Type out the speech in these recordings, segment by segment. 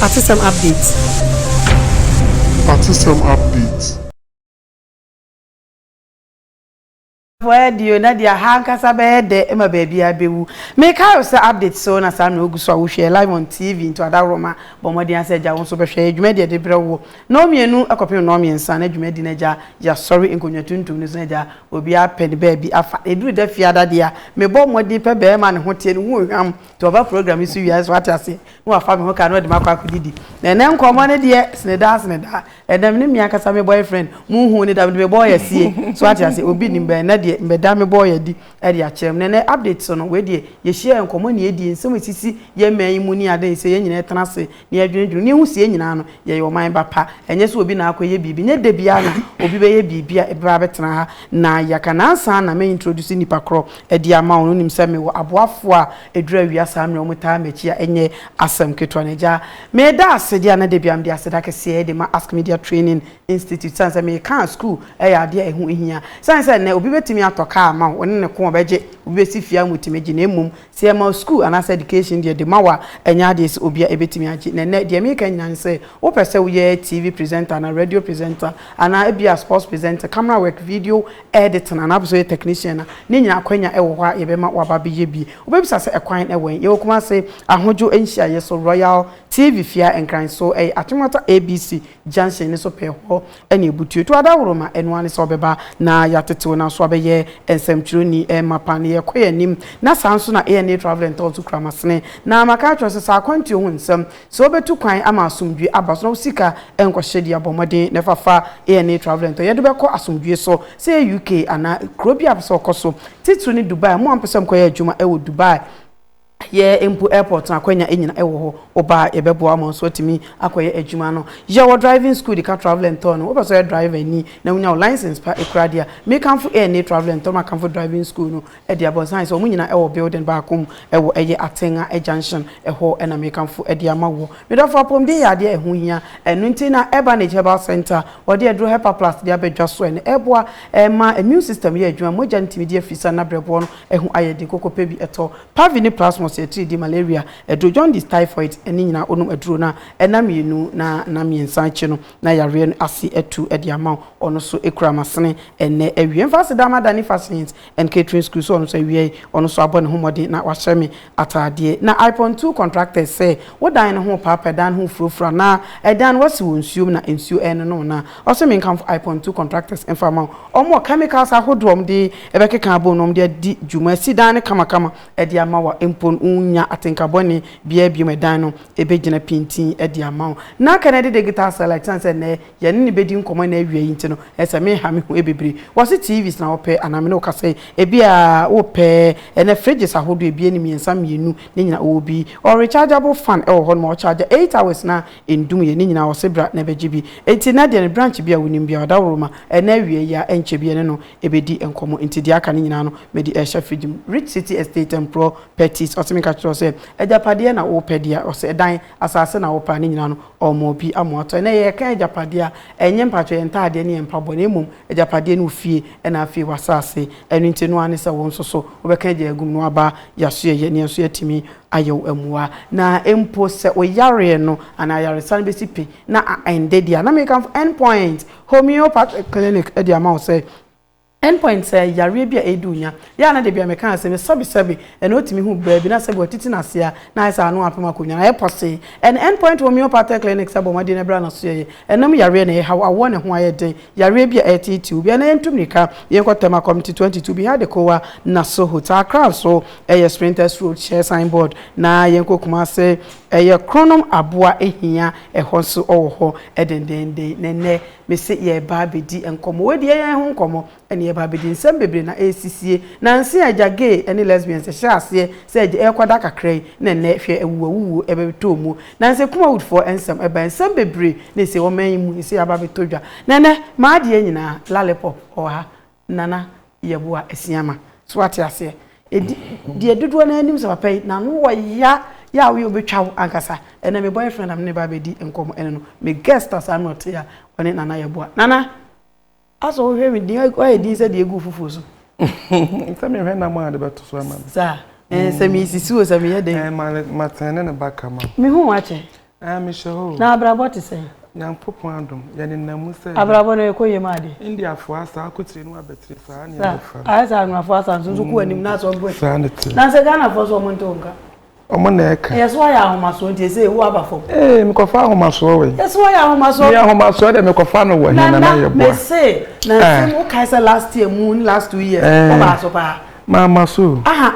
Atesɛm Update! Atesɛm Update! Boa yɛ deɛ o na deɛ aha ankasa bɛyɛ dɛ ma baabiara bɛwu. Mekae wo sɛ update so na saa mmerɛ wogu so a wohwɛ live on TV nto adaworoma bɔ mmɔden ara sɛ agya wo nso bɛhwɛ yɛ dwumadi a yɛde brɛ wo wɔ nnɔn mmienu kɔpem nnɔn mmiɛnsa na dwumadi no agya yɛasɔre nkonnwa tuntum no so na agya Obiara apɛ ne baabi afa. Ɛduru da fiada deɛ a, mebɔ mmɔden pɛ barima a ne ho teɛ, ne ho nhwam, nti ɔba program yi so wie a, ɛsɛ sɛ wate aseɛ, na wafa me ho ka na ɔde me akɔ akɔdidi. Na ɛnnɛ nkɔmmɔ no deɛ, sene daa sene daa. Ɛnnɛ me ne me ankasa me boyfriend, monhuu no da, mede me bɔɔyɛ asie. So wate aseɛ? Obi nim bɛn, ɛnnɛ deɛ mɛda me bɔɔyɛ adi de akyerɛ mo. Na ɛnnɛ update so no, wei deɛ, yɛhyiaeɛ, nkɔmmɔ na yɛdie, nsɛm a ɛsisi yɛn man yi mu ne adeɛ, ɛsɛ sɛ yɛn nyinaa tena ase na yɛdwendwene, na yɛhu sɛ yɛn nyinaa no, yɛyɛ ɔman ba pa. Ɛnyɛ sɛ obi na akɔyɛ biribi. Ɛnyɛ da biara na obi bɛyɛ biribi a ɛbɛba abɛtena ha na yɛaka. Nnansa ara na me introduce nnipa korɔ de ama wo no, wonim sɛ mewɔ aboafoɔ a ɛduru awia saa mmerɛ a wɔtaa m'akyi a ɛnyɛ asɛm ketewa. Na agya, meda ase deɛ a na da biara mede aseda kɛseɛ de ma Ask Media Training Institute sane sɛ meka a sukuu yɛ adeɛ a ɛho hia. Ɛsiane sɛ ɛnnɛ obi bɛtumi atɔ kaa ama wo, wo ne no ko, ɔbɛgye, obi bɛsi fie ama wo tumi gye, na mmom Sɛ yɛma sukuu anaasɛ ɛdikehyin deɛ dema wo a, ɛnyɛ adeɛ sɛ obiara bɛtumi agye. Na ɛnnɛ, deɛ mereka nyinaa ne sɛ, wopɛ sɛ woyɛ TV presenter anaa radio presenter, anaa ebia sports presenter, camera work, video editing, anaa wopɛ sɛ woyɛ technician a, ne nyinaa akwanya wɔ hɔ a yɛbɛma wo aba abɛyɛ bi. Wobɛbisa sɛ, Ɛkwan wɔ he? Yɛwɔ Kumasi Ahodwo Nhyiaeɛ so, Royal TV fie a Nkran so, ɛyɛ Akyem Wata ABC junction no so pɛɛ hɔ na ɛbutuo. To adaworo ma ɛno ara ne sɛ ɔbɛba na yɛatetew no aso abɛyɛ nsɛmtwerɛni ma pan no. Yɛkɔ yɛn anim. Na saa nso na ANA Travel and Tours kura m'asene. Na maka akyerɛ wo sɛ, sɛ akwantuo ho nsɛm, sɛ wobɛtu kwan ama asomdwoe aba so na wo sika nkɔhyɛ di a, bɔ mmɔden na fa fa ANA Travel and Tours. Yɛde wo bɛkɔ asomdwoe so, sɛ ɛyɛ UK anaa kuro biara a wopɛ sɛ wokɔ so. Titiriw ne Dubai. Mo a mopɛ sɛ mokɔyɛ adwuma wɔ Dubai. Yɛ mpo airport no akwanya nyina ɛwɔ hɔ wo ba a yɛbɛboa ama wo nso atumi akɔyɛ adwuma no yɛ wɔ driving school de ka travel and tour no wopɛ sɛ ɔyɛ driver ni na wonya wo license pa kura deɛ a mekamfo ANA travel and tour makamfo driving school no de abɔ nsa ayɛsɛ wɔn nyina ɛwɔ building baako mu ɛwɔ ɛyɛ Atenga junction ɛhɔ na mekamfo de ama woɔ medɔfo apɔmuden yɛ adeɛ a ɛho hia ɛno nti na Urbanage herbal center wɔde aduro Herpaplast de abɛdwa so ɛno ɛboa ɛma immune system yɛ adwuma mogya no tumi di afiri sa na brɛboɔ no Ɛho ayɛ den koko pɛ bi ɛtɔ. Pavi ne plasmos yɛ atiridii malaria aduro, jaundice, typhoid ne nyinaa onom aduro no a ɛna mmienu na na mmiɛnsa akyi no na yareɛ no ase atu de ama wo. Ɔno so kura masene ɛnnɛ awie. Mfa aseda ma Danny Fashions and Catering School sɛ ɔno so awiae. Ɔno so abɔ ne ho mmɔden na wahyɛ me ataadeɛ na ipon two contractors sɛ wo dan no ho paapɛ dan ho furofura na ɛdan no wasi wɔ nsuom na nsuo ɛrenono na ɔse menkamfo ipon two contractors mfa ma wo ɔmo wɔ chemicals ahodoɔ ɔmo de ɛbɛkeka abom na ɔmo de adi dwuma asi dan no kamakama ɛde ama wo a mpo no wo nnya atenka bɔne biaa biom ɛdan no ɛbɛgyina pintinn ɛde ama wo na kennedy digital cell ɛte sɛ nɛɛ Yɛne no bɛdi nkɔmmɔ ɛna awiei nti no ɛsɛ meha me ho bebree. Wɔse TVs na wopɛ anaa mene wo ka sɛ ebia wopɛ ɛnɛ fridges ahodoɔ abien mmiɛnsa mmienu ne nyinaa ɔwɔ bi. Ɔwɔ rechargeable fan ɛwɔ hɔnom a ɔcharger eight hours na ɛndum yɛ ne nyinaa ɔse bra na bɛgye bi. Nti ɛnɛ deɛ no branch bi a wonim biara Ɔdaworoma ɛna awiei yi ara ɛnkyɛ bi yɛne no ɛbɛdi nkɔmmɔ nti deɛ aka no nyinaa no mede ɛrehyɛ fridge mu. Rich City Estate Mprɔ Petties ɔse menka kyerɛ wo sɛ agyapadeɛ na wopɛ deɛ ɔse ɛdan Asase na wopɛ a ne nyinaa no ɔma obi ama watɔ. Ɛnɛ yɛka agyapadeɛ a, ɛnyɛ mpakyɛw yɛn ntaadeɛ ne yɛn mpaboa na mmom agyapadeɛ ne wo fie ɛna afei w'asase. Ɛno nti ɛno ara ne sɛ wo nso so wobɛka agya agu mu na waba yasoɛ yɛ ne yɛn nso yɛatumi ayɛ wo amuwa. Na mpo sɛ wo yareɛ no anaa ayaresa no bɛsi pi na a ɛnde deɛ a na mekamfo End Point Homeopathic Clinic de ama wo sɛ Endpoint sɛ yareɛ bi a ɛredi wo nya. Yɛ a na da biara mekaa sɛ me sɛbe sɛbe ɛna otumi hu baa bi na sɛbe watiti n'ase a na ayɛ sɛ ano apem akonnwa no ayɛ pɔsee. Ɛna Endpoint Homeopathic Clinics abɔ mmɔden ɛberɛ a n'asoɛeɛ ɛnam yareɛ na ɛrehaw awoɔ ne ho ayɛ den yareɛ bi a ɛreteetee obi. Ɛna yɛntu mmirika yɛnkɔ Tema Committee 22 Biha Adekowa Naso Hotel Accra nso ɛyɛ Sprinters Road hyɛ signboard na yɛnkɔ Kumase ɛyɛ Kronom Aboa hia ɛhɔ nso ɔwɔ hɔ dendeenden na ɛnnɛ Mese yɛreba abɛdi nkɔmmɔ. Wei deɛ yɛn ho nkɔmmɔ na yɛreba abɛdi. Nsɛm bebree na ɛresisie. Nanse a agya gay ne lesbians hyɛɛ aseɛ sɛ agya ɛrekɔda kakra yi na ɛnnɛ hwɛ awuwuawuwuo ɛbɛtɔɔ muo. Nanse Kumawudfoɔ nsɛm ɛbaeɛ. Nsɛm bebree na ɛsɛ ɔman yi mu ɛsɛ aba abɛtɔ dwa. Na ɛnnɛ m'adeɛ nyinaa, Lollipop, ɔwɔ ha. Nana Yeboah Asiamah. So wate aseɛ? Ɛdi, deɛ dodoɔ no ara nim sɛ papa yi, n'ano wɔ ya, ya a woyɛ a ɔbɛtwa wo ankasa. Ɛnnɛ me boyfriend a me ne no reba abɛdi nkɔmmɔ ɛne no, me guest a saa na ɔte a ɔne Nana Yeboah. Nana! Asɔ wohwɛ me din, woayɛ din sɛ deɛ ɛgu wo fufuo so. Sɛ mehwɛ nam a de bɛto so ama me. Saa? Ɛɛ, sɛ mesisi o, sɛ meyɛ dɛn? Ɛɛ, ma, matene ne ba kama. Mehu wo akyɛ. Ɛɛ mehyɛ hɔ o. Na abrabɔ te sɛn? Nyankopɔn adom, yɛnenam mu sɛ. Abrabɔ no ɛkɔ yie ma ade. Indiafoɔ asa akotire no abɛtire saa ne ɛbɛfa. Ayɛ sɛ Anwafoɔ asa nso nso kɔ anim na asɔ boɛ. Saa ne teɛ. Nansɛ Ghanafoɔ nso wɔn ntew nka. Wɔn na ɛka. Yɛ so ayɛ ahomasoɔ nti ɛsɛ ewu aba fam. Ee mekɔfa ahomasoɔ wɔ he? Yɛ so ayɛ ahomasoɔ. Me ahomasoɔ deɛ mekɔfa no wɔ he na na yɛ boa. Nana mese Nansem wokae sɛ last year mu ne last two years wobaa so paa. Mamma so o. Aha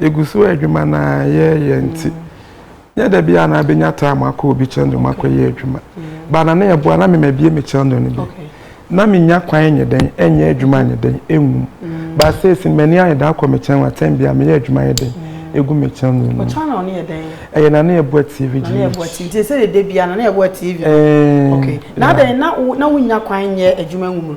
Yɛgu so adwuma no ara yɛ yɛ nti, nyɛ da biara na abɛnya time akɔ obi kyɛndo mu akɔyɛ adwuma. Ba na na ɛboa na mema bie me kyɛndo no bi. Na menya kwan nyɛ dɛn ɛnyɛ adwuma nyɛ dɛn ɛnwum. Ba seesi m'ani ayɛ dɛ akɔ me kyɛn wɔ atɛm bia meyɛ adwuma yɛ dɛn ɛgu me kyɛndo no mu. Ɛyɛ na na ɛboa TV gyi. Na ɛboa TV. Nti sɛ ɛdɛ biara na ɛboa TV. Ɛɛ. Okay. Na adɛn na wonya kwan nyɛ adwuma nwum no.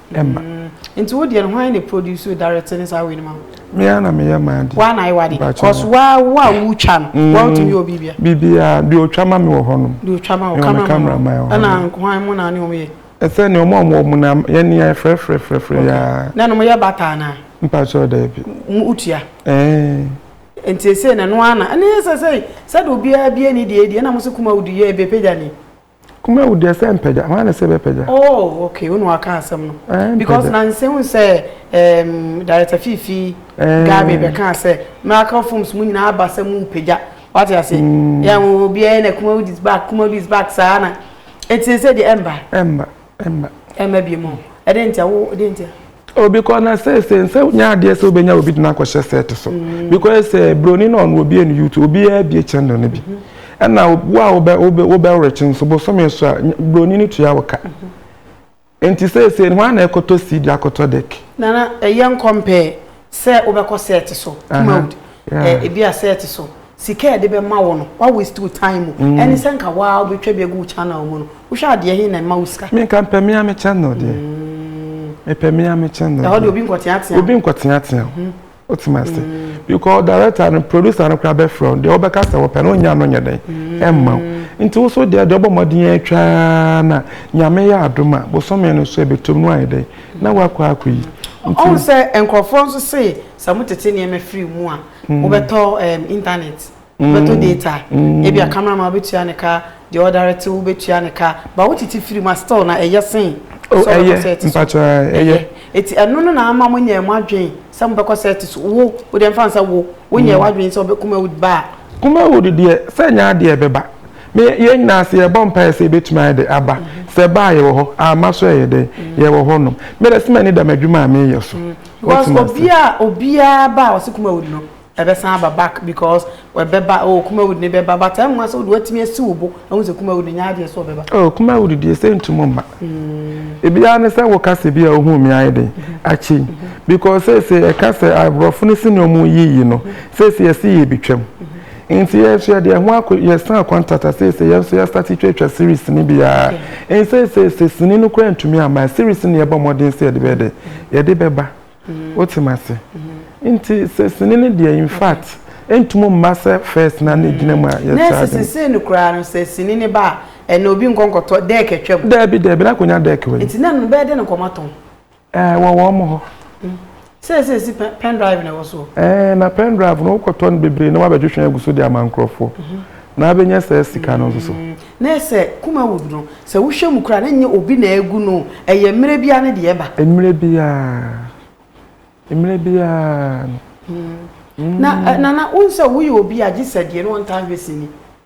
Ɛma. Mm, nti wo deɛ no hwan na produce direct ne saa wei no ma wo? Me ara na meyɛ maa deɛ. Woa na ayɛ wade? Because woa wo a wotwa no, mm. woa wotumi yɛ obi bia? Biribiara, deɛ otwa ma me wɔ hɔ nom. Deɛ otwa ma wo, camera, camera ma wɔ hɔ. Ɛna hwan mo na ne wɔn yɛ? Ɛsɛ ne wɔn a wɔn mo na yɛn ni ayɛ frɛfrɛfrɛfrɛ yaa. Na no mo yɛ bataa na. Mpa kyɛw da ebi. Mo utua. Ɛɛ. Nti ese na no ana. Ɛne sɛ sɛ sɛ de obiara bi ani deɛ deɛ na mo se kuma odi yɛ ebe pagya ni. Kumawu deɛ sɛ mpagya, hwan na sɛ bɛpagya? Oh, okay, wo na waka asɛm no. Eh, Because na nsɛ hu sɛ um, Director Fifi eh. Gabe bɛka sɛ Miracle Films mu nyinaa aba sɛ mu mpagya. Wate ase? Mm. Yɛn obiara na Kumawu is back, Kumawu is back saa na. Ɛti sɛ deɛ ɛmba. Ɛmba. ɛmma ɛmma bi mu ɛdɛ ntia wo ɛdɛ ntia obi kɔ na sɛ sɛ nsɛ nyɛ adeɛ sɛ wobɛnya obi de no akɔhyɛ sɛt so mm. because sɛ eh, buroni no ɔno obie no youtube obiara bie channel no bi mm-hmm. ɛna wo a wobɛ wobɛ wobɛwrekye nso bosome so a buroni no tua wo ka mm-hmm. nti sɛ sɛ ho ana ɛkɔtɔ cd akɔtɔ dɛk nana ɛyɛ nkɔmpɛ sɛ wobɛkɔ sɛt so mode eh, ebi a sɛt so sika a yɛde bɛma wo no wa waste wo time mu mm. ɛne sɛ nka waa wobɛtwa bi agu wo channel mu no wohwɛ adeɛ he na ɛma wo sika menka mpɛ mea me channel deɛ mm. mepɛ mea me channel ɛhɔ deɛ obi nkɔteatea obi nkɔteatea mhm. wotumi ase mm. because director no producer no koraa bɛfrɛ wo deɛ wobɛka sɛ wɔpɛ no wonya no nyɛ dɛn ɛmma wo nti wo so deɛ deɛ ɔbɔ mmɔden atwaa na nyame yɛ adom a bosome no so ɛbɛtom no ayɛ dɛn na woakɔ akɔ yi ɔhu sɛ nkurɔfoɔ nso se sɛ motete nneɛma firi mu a wobɛtɔ um, internet wobɛtɔ data ebia camera ma wobɛtua ne ka deɛ ɔdarete wobɛtua ne ka ba wotete firi mu a still na ɛyɛ sen Oh, sɛ ɛyɛ wobɛkɔ sɛ ɛte so mpakyɛ ɛyɛ ɛyɛ ɛti ɛno no na ama mo nyɛ mo adwen sɛ mobɛkɔ sɛ ɛte so wo wode mfa nsɛ wo wonyɛ w'adwen sɛ wobɛkuma wo ba a kuma wo dedeɛ sɛ nyɛ adeɛ ɛbɛba me yɛn nyinaa sɛ yɛbɔ mpaeɛ sɛ yɛbɛtumi ayɛ de aba sɛ ɛbaa yɛwɔ hɔ ama so ɛyɛ dɛn yɛwɔ hɔ nom mede sɛ m'ani da m'adwuma a meyɛ so Because obi a obiara ba a ɔse Kumawood no ɛbɛsan aba back because ɛbɛba oh Kumawood ne bɛba but ɛnwa sɛ wode watumi asi wo bo ɛho sɛ Kumawood nyɛ adeɛ sɛ ɔbɛba. Oh Kumawood deɛ sɛ ntum mma. Mm. Ebiara ne sɛ woka sɛ bi a ohun mi ayɛ den mm-hmm. akyi mm-hmm. because sɛ sɛ ɛka sɛ aborɔfo no si ne ɔmo yiyi no mm-hmm. sɛ sɛ yɛsi yɛ bi twam. Nti yɛ nso yɛde yɛn ho akɔ yɛ san kɔntata seesei yɛn nso yɛ starte twatwa series sini bi aa nsɛ seesei sini no koraa ntumi ama ɛ series no na yɛbɔ mmɔden sɛ yɛde bɛyɛ dɛ yɛde bɛba wote ma se nti sɛ sini no deɛ infact ɛntumi mma sɛ first na ne gyina mu a yɛ saa de seesei no koraa no sɛ sini no ba a ɛnɛ obi nkɔ nkɔtɔ deck atwam daabi daabi na akɔnya deck wɔ yi nti na no bɛyɛ dɛ na nkɔma tɔn. Eh, wɔ wɔn mo hɔ. Sɛsɛ si pen drive na ɛwɔ so. Eh, na pen drive no wokɔtɔ no bebree na wabɛtwetwe agu so de ama nkurɔfoɔ. Mhm. Na abɛnya saa sika no nso so. Mm. Na ɛsɛ kuma wood no sɛ wohwɛ mu koraa na nyɛ obi na egu no ɛyɛ mmerɛ biara ne deɛ ɛba. Mmerɛ biara. Mmerɛ biara. Mm. mm. Na eh, nana wonsɛ woyɛ obi a gye sɛ deɛ no wɔntaa hwɛ sini.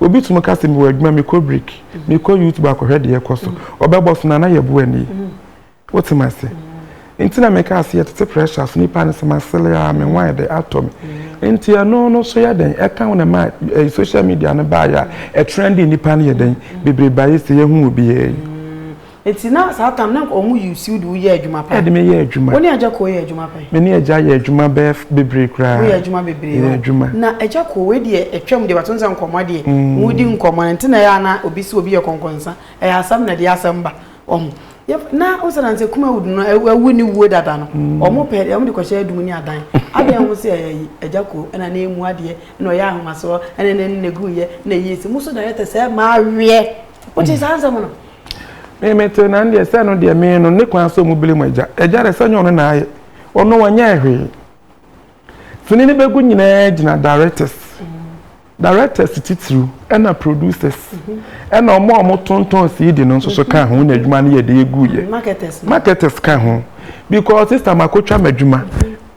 Obi tumi ka sɛ mewɔ adwuma mekɔ break mekɔ YouTube akɔhwɛ deɛ ɛkɔ so ɔbɛbɔ so na na yɛboa nie wote ma se nti na meka ase yɛtete pressure so nipa no sɛ masele a me wan de atɔ me nti ɛno no so yɛ dɛn ɛka wo na ma eh, social media no baayɛ a ɛtrɛnde nipa no yɛ dɛn bebree baayɛ sɛ yɛhu obiara yi Eti na saa tam na nka ɔmo yi wo siw de wo yɛ adwuma paa. Ɛde me yɛ adwuma. Wo ne agya koo yɛ adwuma pɛn? Me ne agya yɛ adwuma bɛyɛ bebree koraa. Mo yɛ adwuma bebree o. Yɛ adwuma. Na agya koo wei deɛ ɛtwam deɛ but wonsɛ nkɔmɔ deɛ mo di nkɔmɔ ɛnti na ɛyɛ a na obi se obi yɛ kɔnkɔnsa ɛyɛ asɛm na ɛde yɛ asɛm ba wɔho yɛf na wosɛ na nsɛ kumawood no awu ne wuo dada no ɔmo pɛ deɛ ɔmo de kɔhyɛ adum ne adan adeɛ ho se ɛyɛ yi agya koo ɛna na emu adeɛ ɛna ɔyɛ ahomasoɔ ɛna ne ne ne gu yɛ na ɛyɛ si mo so directors ɛma aweɛ. wote saa nsɛm no me me te na ndeɛ sɛ no deɛ me no ne kwan sɛ ɔmu bere mu agya agya dɛ sɛ nyɛ ɔno na ayɛ ɔno wɔnyɛ hwee fini ne bɛgu nyinaa gyina directors directors titiriw ɛna producers ɛna ɔmo a ɔmo tontɔn cd no nso so ka ho na adwuma no yɛ de egu yɛ marketers ka ho because sister makotwa ma adwuma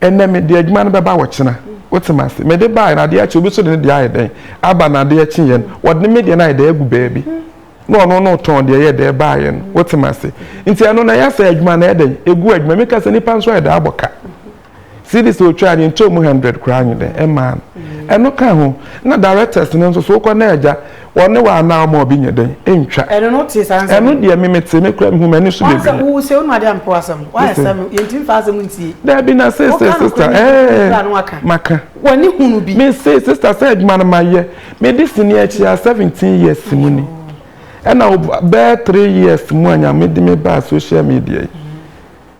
Ɛnnɛ mede adwuma no bɛba ɔkyena. Wote me ase? Mede baeɛ no, adeɛ kye, obi nso de ne deɛ ayɛ dɛn aba, na adeɛ kyeeɛ no, wɔde me deɛ no ayɛ dɛn agu baabi, na ɔno no retɔn deɛ ɛyɛ dɛn baeɛ no. Wote me ase? Nti ɛno no, ɛyɛ sɛ adwuma no ayɛ dɛn? Ɛgu adwuma. Meka sɛ, nnipa nso ayɛ dɛn abɔ ka? Cedis a ɔtwaa no, yɛntɔɔ mu hundred koraa, anyɛ dɛn? Ɛmmaa no. Ɛno ka ho. Na directors no nso so, wokɔ na agya, Wɔ ne wɔ anaa ɔma obi nyɛ dɛn? Ɛntwa. Ɛno no wotee saa nsɛm yi. Ɛno deɛ me metee me koraa mehu m'ani so bebree. Wansɛ wo wo se wonum adeɛ a mpo asɛm wayɛ sɛ me yɛnti mfa asɛm ntie. Daabi na se se sister ɛɛ maka. W'ani hunu bi. Me se sister sɛ adwuma no ma yɛ me de sini akyi a seventeen years mu ni ɛna bɛɛ three years mu a nyame de me baa social media yi.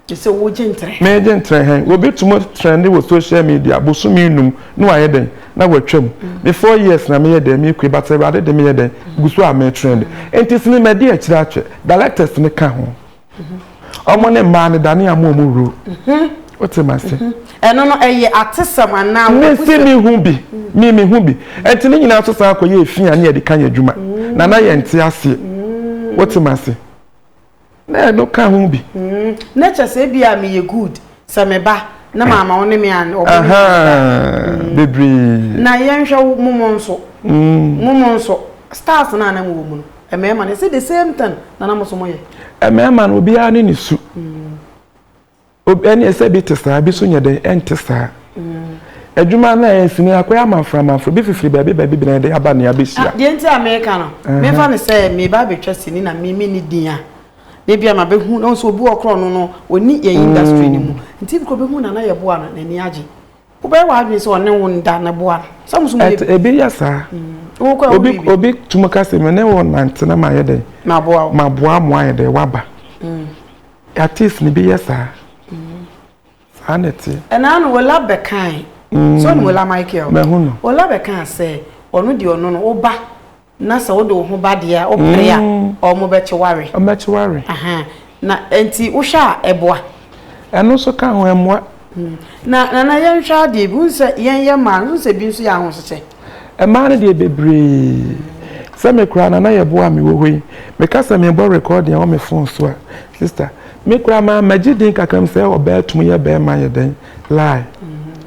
Mese wo gye ntrɛ. Me gye ntrɛ hɛn. Obi tum trɛnde wɔ social media bosome enum na ɔayɛ dɛn na ɔatwa mu. Me four years na meyɛ dɛn mekue but Awurade de meyɛ dɛn gu so a me trɛnde. Ntsi se me ma di akyir atwɛ. Directors no ka ho. Ɔmo ne mbaa no dane amoa ɔmo wur. Wote mase? Ɛno no ɛyɛ atesɛm anaa w'abusɛm? Mese me hu bi. Me me hu bi. Ntsi ne nyinaa so san kɔ yɛɛ fi a na yɛde ka yɛn adwuma. Na na yɛnte aseɛ. Wote mase? Na ɛno ka ho bi. Na kyɛ sɛ ebi a meyɛ good sɛ me ba na maama wo ne me an ɔbɔ me anta. Bebree. Na yɛnhwɛ wo mo mo nso. Mo mo nso stars na anam wɔ mu no. Mmarima no ɛsɛ the same thing na na mo so mo yɛ. Mmarima no obiara ne ne su. Obi ɛne ɛsɛ bi te saa bi so nyɛ dɛn ɛnte saa adwuma no a ɛnsi no akɔyɛ amanfra amanfra bi fifiri baabi baabi bɛn de aba nea bɛhyia. Deɛ nti a meka no mefa no sɛ meba abɛtwa sini na me menni din a na bi a ma bɛhu na nso obi wɔ korɔ no no ɔni yɛn industry no mu nti bi kɔ bɛhu na na yɛboa no n'ani agye wobɛyɛ w'adwene sɛ ɔne wo nda na boa no sɛ mo so mo yɛ ebi yɛ saa obi obi tum ka sɛ me ne wo nante na ma yɛ dɛn ma boa mo ayɛ dɛn waba. Artist ni bi yɛ saa. Mm. Saa na ɛte. Ɛnaa no Ola bɛkae. Mm. So no Ola Michael. Mɛhu no. Ola bɛkaa sɛ ɔno deɛ ɔno no woba na sɛ wode wo ho ba deɛ a wopere a mm. ɔmo bɛkye ware. Ɔmo bɛkye ware. Aha. Na nti wohwɛ a ɛboa. Ɛno nso ka ho ɛmoa. Na Nana yɛnhwɛ adeɛ bi, wohu sɛ yɛn yɛ mmaa no, wohu sɛ bi nso yɛ ahosesɛ? Mmaa no deɛ bebree. Sɛ me koraa Nana yɛ boɔ a mewɔ hɔ yi, meka sɛ merebɔ recording wɔ me phone so a, sister, me koraa maa magye din kakra mu sɛ ɔbaa tumi yɛ bɛɛma yɛ dɛn lie.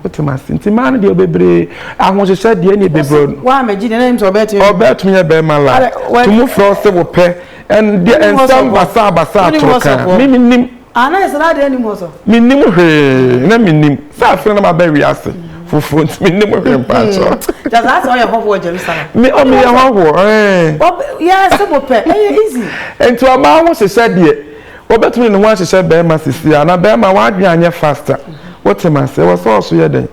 Wote me ase? Nti mmaa no deɛ bebree, ahosesɛ deɛ ɛne bebree no. Waa magye din na ɛnim sɛ ɔbaa tumi. Ɔbaa tumi yɛ bɛɛma lie. Tumu frɛ wo se wopɛ, ɛndeɛ nsɛm basaa basaa toro kaa, me menim. Ah, na ɛsɛ na adeɛ nnim hɔ so. Mennim hwee, na mennim. Sɛ afei na maba wiase foforɔ nti mennim hwee mpaakyɛ. Kyɛ saa sɛ ɔyɛ hɔhoɔ Jerusalem. Me ɔ meyɛ hɔhoɔ. Yɛ sɛ mo pɛ, ɛyɛ easy. Nti ɔbaa ho hyehyɛ deɛ, ɔbɛtumi de ne ho ahyehyɛ bɛrima sisi a, na bɛrima w'adwene anyɛ faster. Wote m'ase? Ɛwɔ sɛ ɔso yɛ dɛn?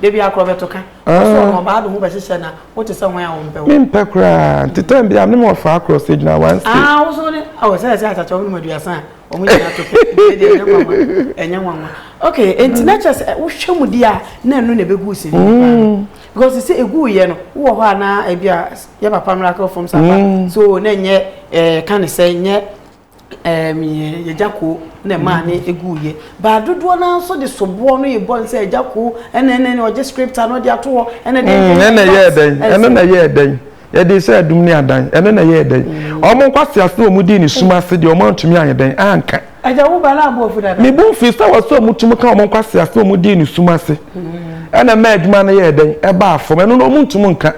Da biara kora ɔbɛto ka. Wo so ɔno ɔbaa de ho bɛhyehyɛ na wo te sɛ hwan a wɔmpɛ wo. Mempɛ koraa. Nti tɛm bi a menom ɔfra akorɔ sɛ gyina one state. Ah wo so ne oh sɛ ɛsɛ akyakya wɔnom aduasa a wɔn nyinaa to pɛ. Nti ɛdeɛ ɛnyɛ nwanwa. Ɛnyɛ nwanwa. Okay nti na kyerɛ sɛ wohwɛ mu di a na ɛno na ɛbɛgu sini no paa no. Because te sɛ ɛgu yɛ no wowɔ hɔ a na ebi a yɛ papa miracle fam sapa so na ɛnyɛ ɛɛ ka ne sɛ nyɛ. Agyako na ɛmaa no guiɛ baa dodoɔ no ara nso de soboɔ no rebɔ no sɛ agyako ɛna ɛna ɛna ɔgye script ano de ato hɔ ɛna de ɛna na ɛyɛ ɛdɛn ɛno na ɛyɛ ɛdɛn yɛde sɛ adum ne adan ɛno na ɛyɛ ɛdɛn wɔn nkwasi ase na wɔn di ne sum ase deɛ wɔn antumi ayɛ dɛn anka. ɛgya wo ba na abo ofu dada. mebu nfi sɛ wɔsɛ wɔn tum ka wɔn nkwasi ase na wɔn di ne sum ase ɛna mɛ adwuma no yɛ ɛdɛn ɛbaa fam ɛno na wɔn ntum nka.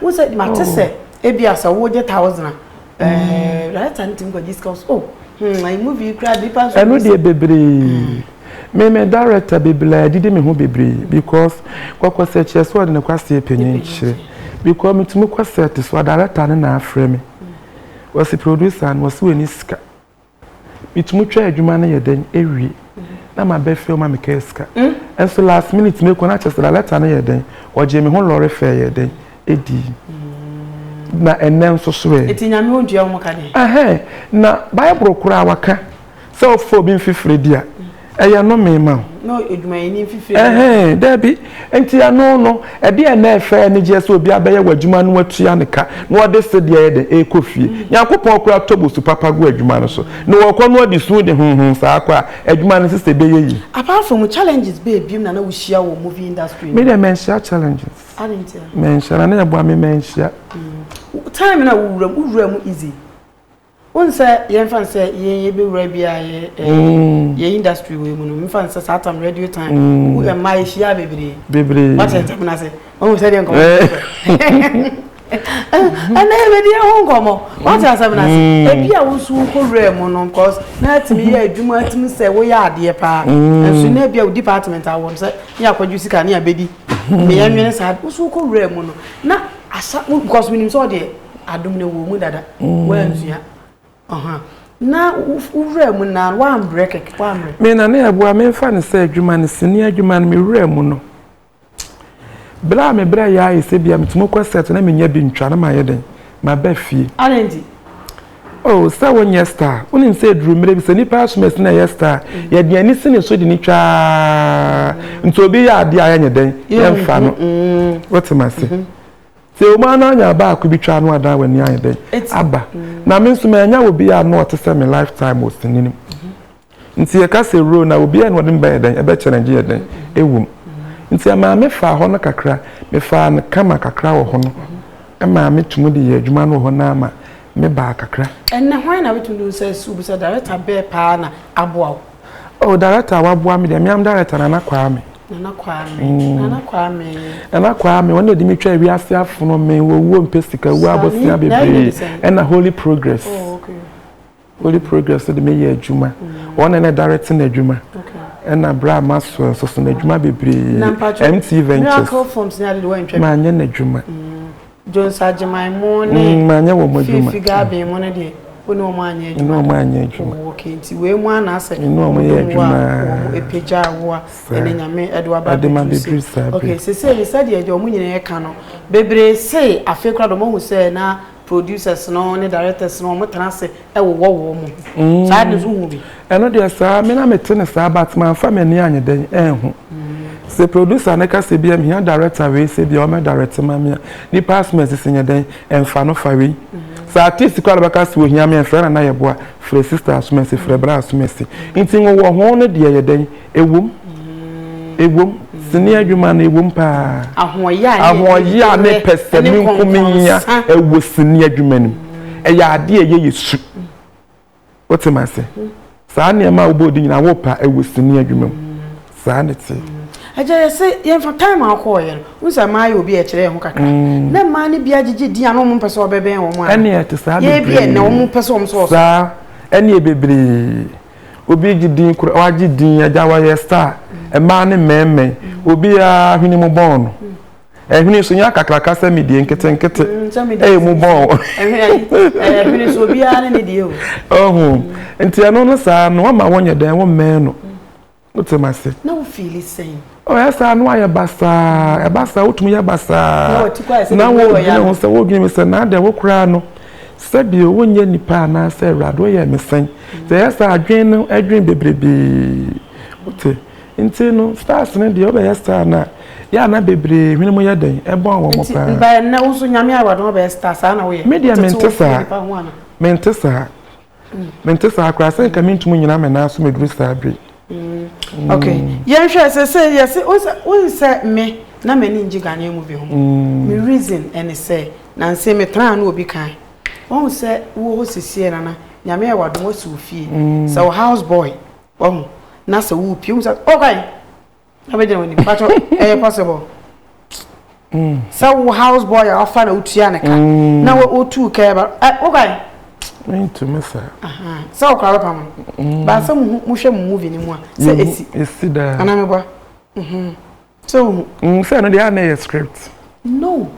wo sɛ mate sɛ oh. ebia sɛ wogye thousand a mm. director no tumi kɔgye sika so oh hmm, ayi movie kura nipa nso ɛno deɛ bebree hmm. me me director bebree adidi me ho bebree because kɔkɔ sɛ kyerɛ sɛ ɔde ne kwaseɛ panyin kyerɛ because metumi kɔ set so a director no na afrɛ me wɔsi producer no wɔsi wɔ ani sika Metumi twa adwuma no yɛ dɛn awie na maba fie ma mekɛɛ sika. Nso last minute mekɔ na kyerɛ sɛ da lɛta no yɛ dɛn, wɔgyee me ho lɔre fɛɛ yɛ dɛn ɛdii. Na ɛnnɛ nso so ɛ. Ɛti nyame ɔdua wɔn ka deɛ. Ɛhɛɛ, na Bible koraa wɔka sɛ wofa obi mfifire di a, Ɛyɛ nnome ma wo. Na odwumayɛni mfifire. Ɛhɛn, dabi. Nti ɛno no, ɛdeɛn na ɛfɛ anigyeɛ sɛ obi abɛyɛ w'adwuma na watua ne ka, na ɔde sedeɛ ayɛ dɛn? Ɛrekɔ fie. Nyankopɔn koraa tɔ bosu papa gu adwuma no so. Na ɔrekɔ no ɔde su de honhon saa akɔ a, adwuma no sesɛ ɛbɛyɛ yie. Apart from challenges bɛɛ biom na na wohyia wɔ movie industry no mu? Me deɛ manhyia challenges. Adɛn nti a? Manhyia, na na ɛboa me manhyia. Time no a wowura mu, wowura mu easy? Wohu sɛ yɛmfa no sɛ yɛn yɛbɛwura bi a yɛ mm. yɛ industry wei mu no mefa no sɛ saa tam radio time mm. wo ɛma yɛhyia bebree bebree woakyɛ nsɛm no ase wohu sɛ deɛ nkɔmmɔ ɛnɛ yɛbɛdi ɛho nkɔmmɔ woate asɛm no ase ebi a wosu wokɔwura mu no cause na atumi yɛ adwuma atumi sɛ woyɛ adeɛ paa nso na ebi a wo department awɔ no sɛ ne akɔdwo sika ne abɛdi meyɛ nwene saa wosu wokɔwura mu no na asa because menim sɛ ɔdeɛ adom no wɔ mu dada woansua ɔha na wowura mu na woambrɛ kɛkɛ woambrɛ me na ne ɛboa memfa no sɛ adwuma no sini adwuma no mewura mu no berɛ a mebrɛ yɛ ayɛ sɛ bia metumi kɔ sɛto na menya bi ntwa no mayɛ dɛn maba fie adɛnti oh sɛ wonyɛ star wonim sɛ ɛduru mmerɛ bi sɛ nnipa asom asi na ɛyɛ star mm. yɛde ani si ne so de ne twaa nti obi yɛ adeɛ a yɛnyɛ dɛn yɛmfa no mm. wotem ase mm-hmm. Sɛ wɔn ara anya baako bi twa ano a daa w'ani ayɛ dɛn aba? Na me nso manya obi a ano ɔte sɛ me lifetime wɔ sini no mu. Nti yɛka sɛ wuro na obi a ɛna ɔde me bɛyɛ dɛn ɛbɛkyɛlɛngye yɛ dɛn ɛwɔ mu. Nti ɛmaa me faa hɔ no kakra, mefaa no kama kakra wɔ hɔ no ɛmaa me tumi de yɛɛ adwuma no wɔ hɔ no ara ma me baa kakra. Ɛnnɛ hwan na wobɛtumi de wo nsa asi wo bo sɛ director bɛɛ paa na aboa wo? Oh director a waboa me deɛ me am director Nana Kwame. Nana Kwame. Mm. Nana Kwame. Nana Kwame wɔn na ɛde me twa ewi ase afono me wɔ wuo mpɛ sika wuo abosea bebree ɛna holy progress. Oh, okay. Holy progress de me yɛ adwuma. Mm. Wɔn na ɛna direct na adwuma. Okay. Ɛna bra ma so nso so na adwuma bebree. MT ventures. Miracle forms na de wɔn ntwa. Ma nyɛ na adwuma. Mm. Jones Agyeman mo ne Fifi Gaben mo no deɛ wo ne wɔn anyɛ adwuma wo okay nti wei mu ana sɛ wɔn de mu a wɔn apagya wo a ɛne nyame ɛde waba abɛduru sɛ okay sese yi sɛdeɛ deɛ wɔn nyinaa ɛka no bebree se afei kora de wɔn ahu sɛ na producers no ne directors no wɔn tena ase ɛwowɔ wɔn mu mm. saa de nso hu bi. ɛno deɛ saa me na mete ne saa but manfa m'ani anyɛ dɛn ɛnho sɛ producer ne ka sɛ bia mehia director wei sɛ bia ɔmɛ direct ma me a nipa asoma asisi nyɛ dɛn ɛmfa no fa wei mm-hmm. sɛ artist kɔ alabɛka sɛ ohia me ɛmfrɛ na na yɛboa frɛ sister asoma asi frɛ bra asoma asi nti wowɔ ho no deɛ yɛ dɛn Ɛwom, ɛwom, sini adwuma no, ɛwom paa. Ahoɔyaa ne pɛsɛmenkominya ɛwɔ sini adwuma no mu. Ɛyɛ adeɛ a ɛyɛ yɛ su. Wote ma ase? Saa nneɛma a wobɔ di nyinaa wopa ɛwɔ sini adwuma mu. Saa ne te. Agya yɛ se yɛmfa time a wokɔɔyɛ no, wo sɛ mmaa yɛ obi a ɛkyerɛ yɛn ho kakra. Mm. Na mmaa no bia gyegye din a na wɔn mpɛ sɛ wɔbɛbɛn wɔn a. Ɛne ɛte saa bebree. Yɛ bi ɛnna wɔn pɛ sɛ wɔn sɛ wɔsɔ. Saa ɛne bebree. Obi egye din koraa w'agye din agya w'ayɛ star mmaa ne mmɛɛmɛɛ obiaa hwene mu bɔn no ɛhwene so nya kakraka sɛ me deɛ nketenkete ɛyɛ mu bɔn ɛhwene so obiaa ne ne deɛ o ɔho nti ɛno no saa no wama wɔnyɛ dɛn wo mmɛɛ no Wote ma se. Na wo fiili sɛn? Oh, ɛyɛ saa na wayɛ basaa. Ɛba saa, wotumi yɛ basaa. Na wodwene ho sɛ, wodwene mi sɛ, na adɛn wo koraa no, sɛbi o, wonyɛ nipa anaasɛ Awurade woyɛɛ me sɛn? Sɛ ɛyɛ saa a, adwene no dwene bebrebe. Wote? Nti no, stars no deɛ, wobɛyɛ star no a, yɛ a na bebree hwene mu yɛ dɛn? Ɛbɔn wɔn paa. Nti, ba ɛnnɛ, wo nso Nyame Awurade, wobɛyɛ star, saa na woyɛ? Me deɛ, mente saa. Mente saa. mente saa koraa sɛ nka mentumi nyina me nan so meduru saa bere mm. okay yɛnhwɛ sɛ sɛ yɛse wohu sɛ me na m'ani ngye ghanaian mu bi ho mm. me reason ɛne sɛ nanse metraa no obi kan wahu sɛ wowɔ hɔ sisiɛ nana nyame yɛ wadom wasi wo fie mm. sɛ wo house boy wahu na sɛ wopie hu sɛ ɔkwan oh, abɛgyina w'anim pakyɛ ɛyɛ possible sɛ wo house boy a wafa na wotua ne ka mm. na wotu ka ɛba wokwae mentumi saa sɛ wokora bɛpa mo mm. baa sɛ mohwɛ mo movie no mu a sɛ ɛsi ɛsi daa anaa meboa mhm. sɛ wohu mm, sɛ no deɛ a na ɛyɛ script no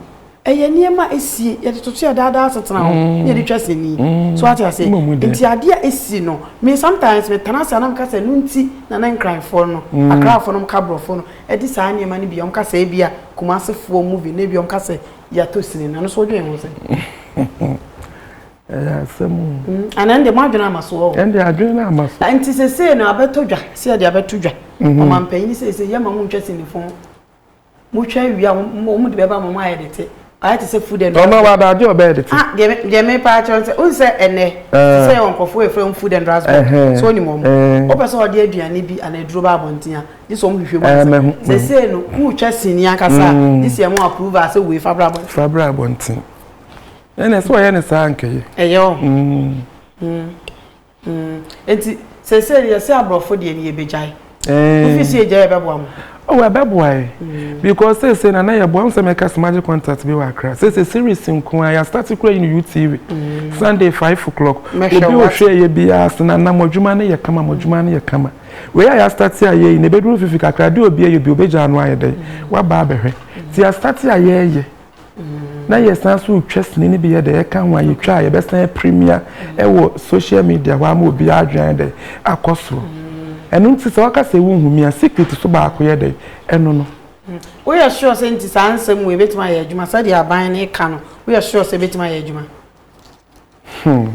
Ɛyɛ nneɛma a esi, yɛde toto yɛ daadaa asetena ho na yɛde twa sini. So wate ase? Nti ade a esi no, me sometimes me tena ase a na meka sɛ ɛno nti na na Nkranfoɔ no, Akrafoɔ no ka Borɔfoɔ no de saa nneɛma no bi a wɔka sɛ ebia Kumasefoɔ movie no ebia wɔka sɛ yɛatɔ sini no, ɛno nso wodwen ho sɛn? ɛyɛ asɛm o. Mm, ana ɛnde mo adwene ama so ɔ. ɛnde adwene no ama so. nti sesei no abɛtɔ dwa sɛ yɛde abɛto dwa ɔmampanin sɛ sɛ yɛma mo ntwa sinifo motwa awie a wɔn de bɛba ma wɔn ayɛ dete ayɛ te sɛ food and drugs. ɔno wa adaade ɔbɛyɛ dete. ah deɛ deɛ mi paa kyerɛ nsɛ o nsɛ ɛnɛ sɛ yɛ wɔn nkorɔfo efra wɔn food and drugs board so onim wɔn o pɛ sɛ ɔde aduane bi ana aduro ba abɔnten a gye sɛ wɔn hwehwɛ mu ansa sɛ sɛ no kuu twa sini ankasa gye sɛ ɛmo approve a sɛ wei fa bra abɔnten. fa bra abɔnten ɛna sɛ ɔyɛ ne saa nkɛyɛ. ɛyɛ ɔ. Mm, eti sɛsɛ yɛ sɛ aborɔfo deɛ ni yɛ bɛgyae. Ɛɛ. Wofi si yɛ gyae yɛ bɛboa mo. Oh, yɛ bɛboa yɛ. Mm. Because sɛsɛ na na yɛ boa mo sɛ mɛka sɛ magye contact bi wɔ akra. Sɛsɛ series nko ara yɛ start kura yi no UTV. Mm. Sunday five o'clock. Obi ohwɛ yɛ bi a sena na mo adwuma no yɛ kama mo adwuma no yɛ kama. Wei a yɛ start a yɛ yi na ebeduru fifi kakra de obi ayɛ bi obegya ano ayɛ dɛ. Waba abɛhwɛ. Ti yɛ start a yɛ yɛ. na yɛsan so retwa sini no bi yɛ dɛ ɛka ho a yɛtwa a yɛbɛsan apirimia wɔ social media hɔ ama obi adwene dɛ akɔ soro ɛno nti sɛ waka sɛ wo nhu mia secret so baako yɛ dɛ ɛno no mm. woyɛ sure sɛ nti saa nsɛm wɔ ebɛtumi ayɛ adwuma sɛdeɛ aban no ka no woyɛ sure sɛ ebɛtumi ayɛ adwuma Hmm.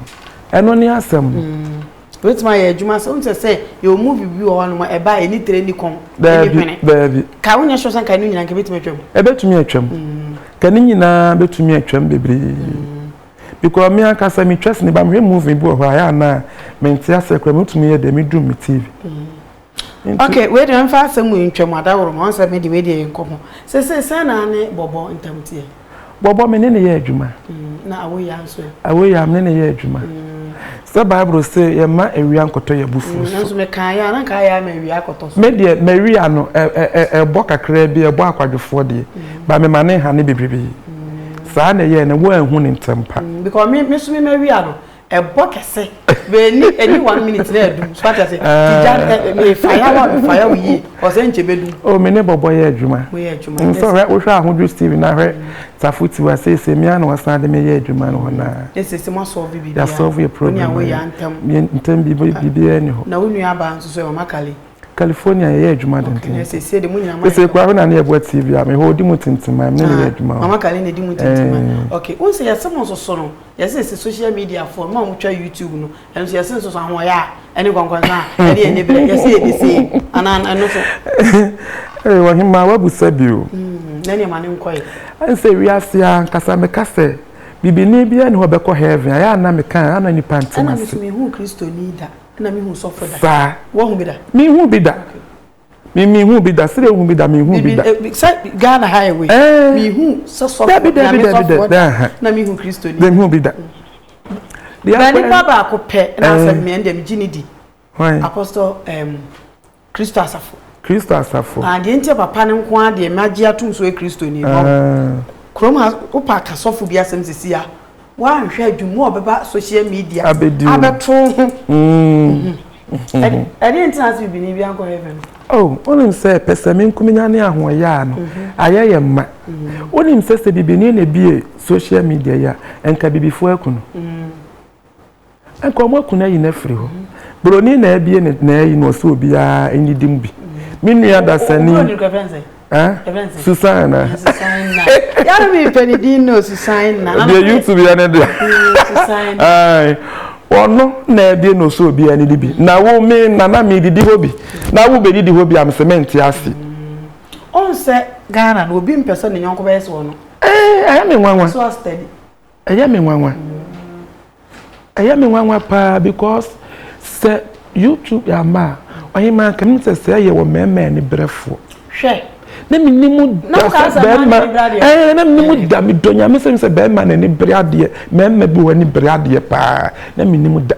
Ɛno ne asɛm. Mm. Wobɛtumi ayɛ adwuma sɛ wohu sɛ sɛ yɛwɔ mu biribi wɔ hɔ nom ɛba a ɛni tire ni kɔn ɛni hwene. Daabi. Ka wonyɛ sure sɛ nka ɛno nyinaa nka ɛbɛtumi atwam. Ɛbɛtumi atwam. Mm. Ka ne nyinaa bɛtumi atwam bebree. Mm. Because me ankasa metwa sini ba mehwɛ movie bi wɔ hɔ a ɛyɛ anaa mente aseɛ koraa mɛtumi yɛ deɛ medum me TV. Mm. Ok, wei deɛ mfa asɛm wei ntwam Adaworoma, wohu sɛ me deɛ wei deɛ yɛ nkɔmmɔ. Seesei sɛn na wo ne Bɔbɔ ntam teɛ? Bɔbɔ, me ne no yɛ adwuma. Na Awoyaa nso ɛ? Awoyaa, me ne no yɛ adwuma. Sɛ Bible se yɛmma awia nkɔtɔ yɛn abufuo so. Nanso mekaeɛ a, na anka ayɛ a ma awia akɔtɔ so. Me deɛ, m'awia no, ɛbɔ kakraa bi, ɛbɔ akwadwofoɔ deɛ, but mema no nhane bebrebe. Saa na ɛyɛɛ no, woanhu no ntɛmpa. Because me nso me m'awia no, ɛbɔ kɛse bɛni ɛni one minute na ɛdum so ata se tija ɛmi faya wa mi faya wo yie ɔsɛ nkyɛ bɛdum. o mi ne bɔbɔ yɛ adwuma nso hwɛ wohwɛ ahodwo steven na hwɛ tafo tiwa seesei mi ana ɔsan de mi yɛ adwuma no hɔ naa. ne sese mo asɔɔve bibi a yasɔɔve yɛ problem ayi mi a ntɛm bibi bibi a ni hɔ. na wo nua abaa nso so mama kale. California yɛ yɛ adwuma denden okay sese de mo nyina ma yɛ sese kura hwɛ na ne yɛ bɔ tv a mi hɔ odi mu tintima mi ne ne yɛ adwuma o mama kale na edi mu tintima okay o nsɛ yɛ se mo nso so no. Yɛse se social media foɔ no a wɔtwa YouTube no ɛno so yɛse nso so ahoɔyɛ a ɛne nkɔnkɔnsa a ɛne ɛne berɛ yɛse yɛ de sei anaa ɛno so. Ee ɔhemaa wabusa bi o. Hmm, na nneɛma no nkɔe. Ɛnsɛ wiase a nkasa meka sɛ bibini biara ne hɔ bɛkɔ heaven ayɛ ana meka a ana nipa ntem ase. Ɛna mesu mehu kristoni da ɛna mehu sɔfo da. Saa. Wahu bi da? Mehu bi da. Okay. Me me hu bi da sɛ ehu bi da me hu bi da. Sɛ Ghana ha yɛ wei. Me hu sɛ sɔfo na me sɔfo da na me hu Kristo ni. Me hu bi da. Na nipa baako pɛ na asɛ me ɛnde me gye ne di. Apostle um, Kristo asafo. Kristo asafo. Ah, deɛ nti papa no nko ara deɛ magye atom so yɛ Kristo ni. Kurom ha wopa ka sɔfo bi asɛm sisi a. woanhwɛ a dwuma a ɔbɛba social media abɛto ho mm. ɛdeɛ nti na sɛ bibini bi ankɔ heaven no oh, wonim sɛ pɛsɛme nkuminya ne ahoɔyɛ a no mhm. ayɛ yɛ mma mhm. wonim sɛ sɛ bibini na bie social media yi a ɛnka bibifoɔ aku no mm. Anka ɔmo aku n'ayi no afiri hɔ. Broni na abie ne n'ayi no ɔsɛ obiara ɛnyidi mu bi. Me nua dasani. Obroni kɔ ɛfɛnsɛ. Ɛfɛnsɛ. Susan na. Susan na. Yàrá mi pɛ ne din no Susan na. Deɛ YouTube yɛ ne deɛ. Susan na. Ɔno na abie no ɔsɛ obiara ɛnyidi bi. Na wo me nana mi didi hɔ bi. Na wo bɛ didi hɔ bi a me sɛ mɛ nti ase. Ɔnsɛ Ghana no obi mpɛ sɛ ne nyɔnko bɛyɛ sɛ ɔno. Ɛɛ ayɛ me nwanwa. So a steady. Ɛyɛ me nwanwa, ɛyɛ me nwanwa paa because sɛ YouTube yɛ ama a, ɔhemaa nka menim sɛ sɛɛ yɛ wɔ mmarima ani berɛfoɔ. Hwɛ. Na menim da sɛ barima, ɛɛ na menim da, medɔ nyame sɛ sɛ barima n'ani bere adeɛ, mmarima bi wɔ ani bere adeɛ paa, na menim da.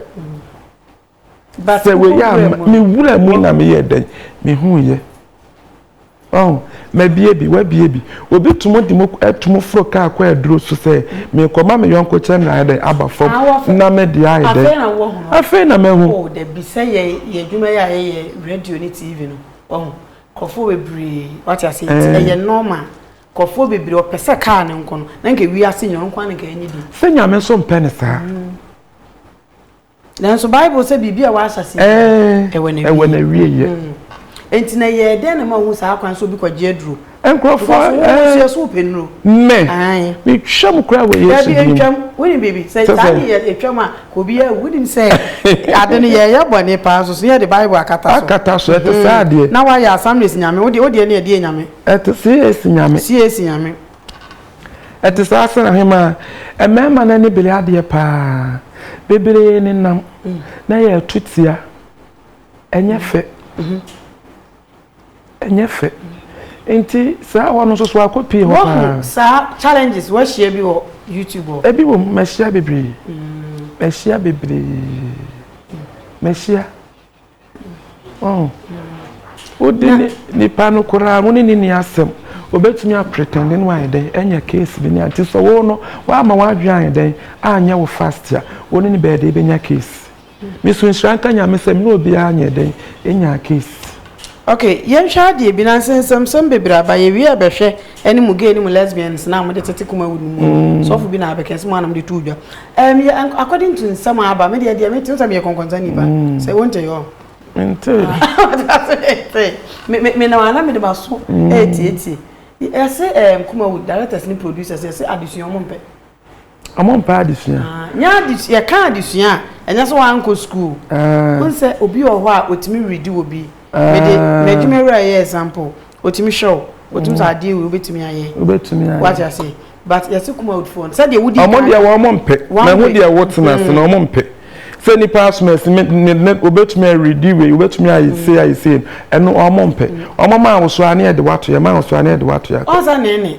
Sɛ wei a me wura mu na meyɛ dɛn mehu yɛ ɔn mabie bi wabie bi obi tum de mu ɛtum foro kaa kɔ aduro so sɛ mekɔ ma me yɔnko kyɛ na ayɛ dɛn aba fam na me de ayɛ dɛn afei na mahu. o dabi sɛ yɛ yɛ adwuma yɛ a yɛyɛ radio ne tv no ɔn nkurɔfoɔ bebree wate ase nti ɛyɛ normal nkurɔfoɔ bebree ɔpɛ sɛ kaa ne nko no na nka wiase nyɛ ɔnko a na nka ɛnyɛ bi. sɛ nyame nso mpɛ ne saa. Nanso Bible sɛ biribi a wɔahyɛ ase eh, ɛwɔ na ɛwɔ na wie yɛ. Mm. Enti na yɛ dɛn na ma ohun saa kwan so obi kɔgye aduro. Nkurɔfoɔ ɛɛ nkurɔfoɔ eh, so pɛ nuro. Mɛ metwa mu koraa wɔ Yesu din. Ntwam wonim biribi sɛ saa ne yɛ etwam a obi yɛ wonim sɛ ade no yɛ yɛ bɔ ne paa so so yɛ de Bible akata so. Akata so ɛte saa mm. adeɛ. Na wɔayɛ assemblies nyame wodeɛ wodeɛ ne ɛdeɛ nyame. Ɛte CAC nyame. CAC nyame. Ɛte saa sɛ ɔhemaa, mmarima no ani bere adeɛ paa. Bebree nenam na ɛyɛ atutia. Ɛnyɛ fɛ. Ɛnyɛ fɛ. Nti saa hɔ no nso so akɔ pii hɔ paa. Wahu saa challenges wahyia bi wɔ YouTube hɔ? Ebi wɔ mu, mahyia bebree. Mahyia bebree. Mahyia. Oh. wode nipa no koraa wo ne ne ni asɛm obɛtumi apretɛnde no ayɛ dɛn ɛnyɛ case bi ne anti sɛ wo no woama woadwe ayɛ dɛn anyɛ wo fast a wo ne ne bɛɛde bɛnya case mesu nhyira nka nyame sɛ mene obiara nyɛ dɛn ɛnyaa case ok yɛnhwɛ adeɛ bi nansɛ nsɛmsɛm bebree aba yɛwie a bɛhwɛ ɛne mo gay ne mo lesbians na mode tete Kumawood no mu sɔfo bi na abɛka sɛ mo anam de to dwa ɛm yɛ according to nsɛm aba me deɛ deɛ me te sɛ meyɛ kɔnkɔnsa nipa sɛ wonte yɔ mente me me na wana me de maso ɛtietie yɛse ɛm Kumawood directors ne producers yɛse adesua ɔmo mpɛ Ɔmo mpɛ adesua. Nyɛ adesua yɛka adesua a ɛnyɛ sɛ wankɔ school wohu sɛ obi wɔ hɔ a ɔtumi readi wɔ bi mede m'adwuma wura yɛ example ɔtumi hwɛ wo ɔtumi sɛ adeɛ wei wobɛtumi ayɛ wate aseɛ but yɛse kuma woodfoɔ no sɛdeɛ wodi ɔmo deɛ wɔn ɔmo mpɛ mahu deɛ wo tena ase na ɔmo mpɛ sɛ nipa asom ɛsi me ne ne obetumi aredi wei obetumi ayɛ se ayɛ se ɛno ɔmo mpɛ ɔmo maa wosoa ne ɛde wato yɛ maa wosoa ne ɛde wato yɛ ɔnsa ne ne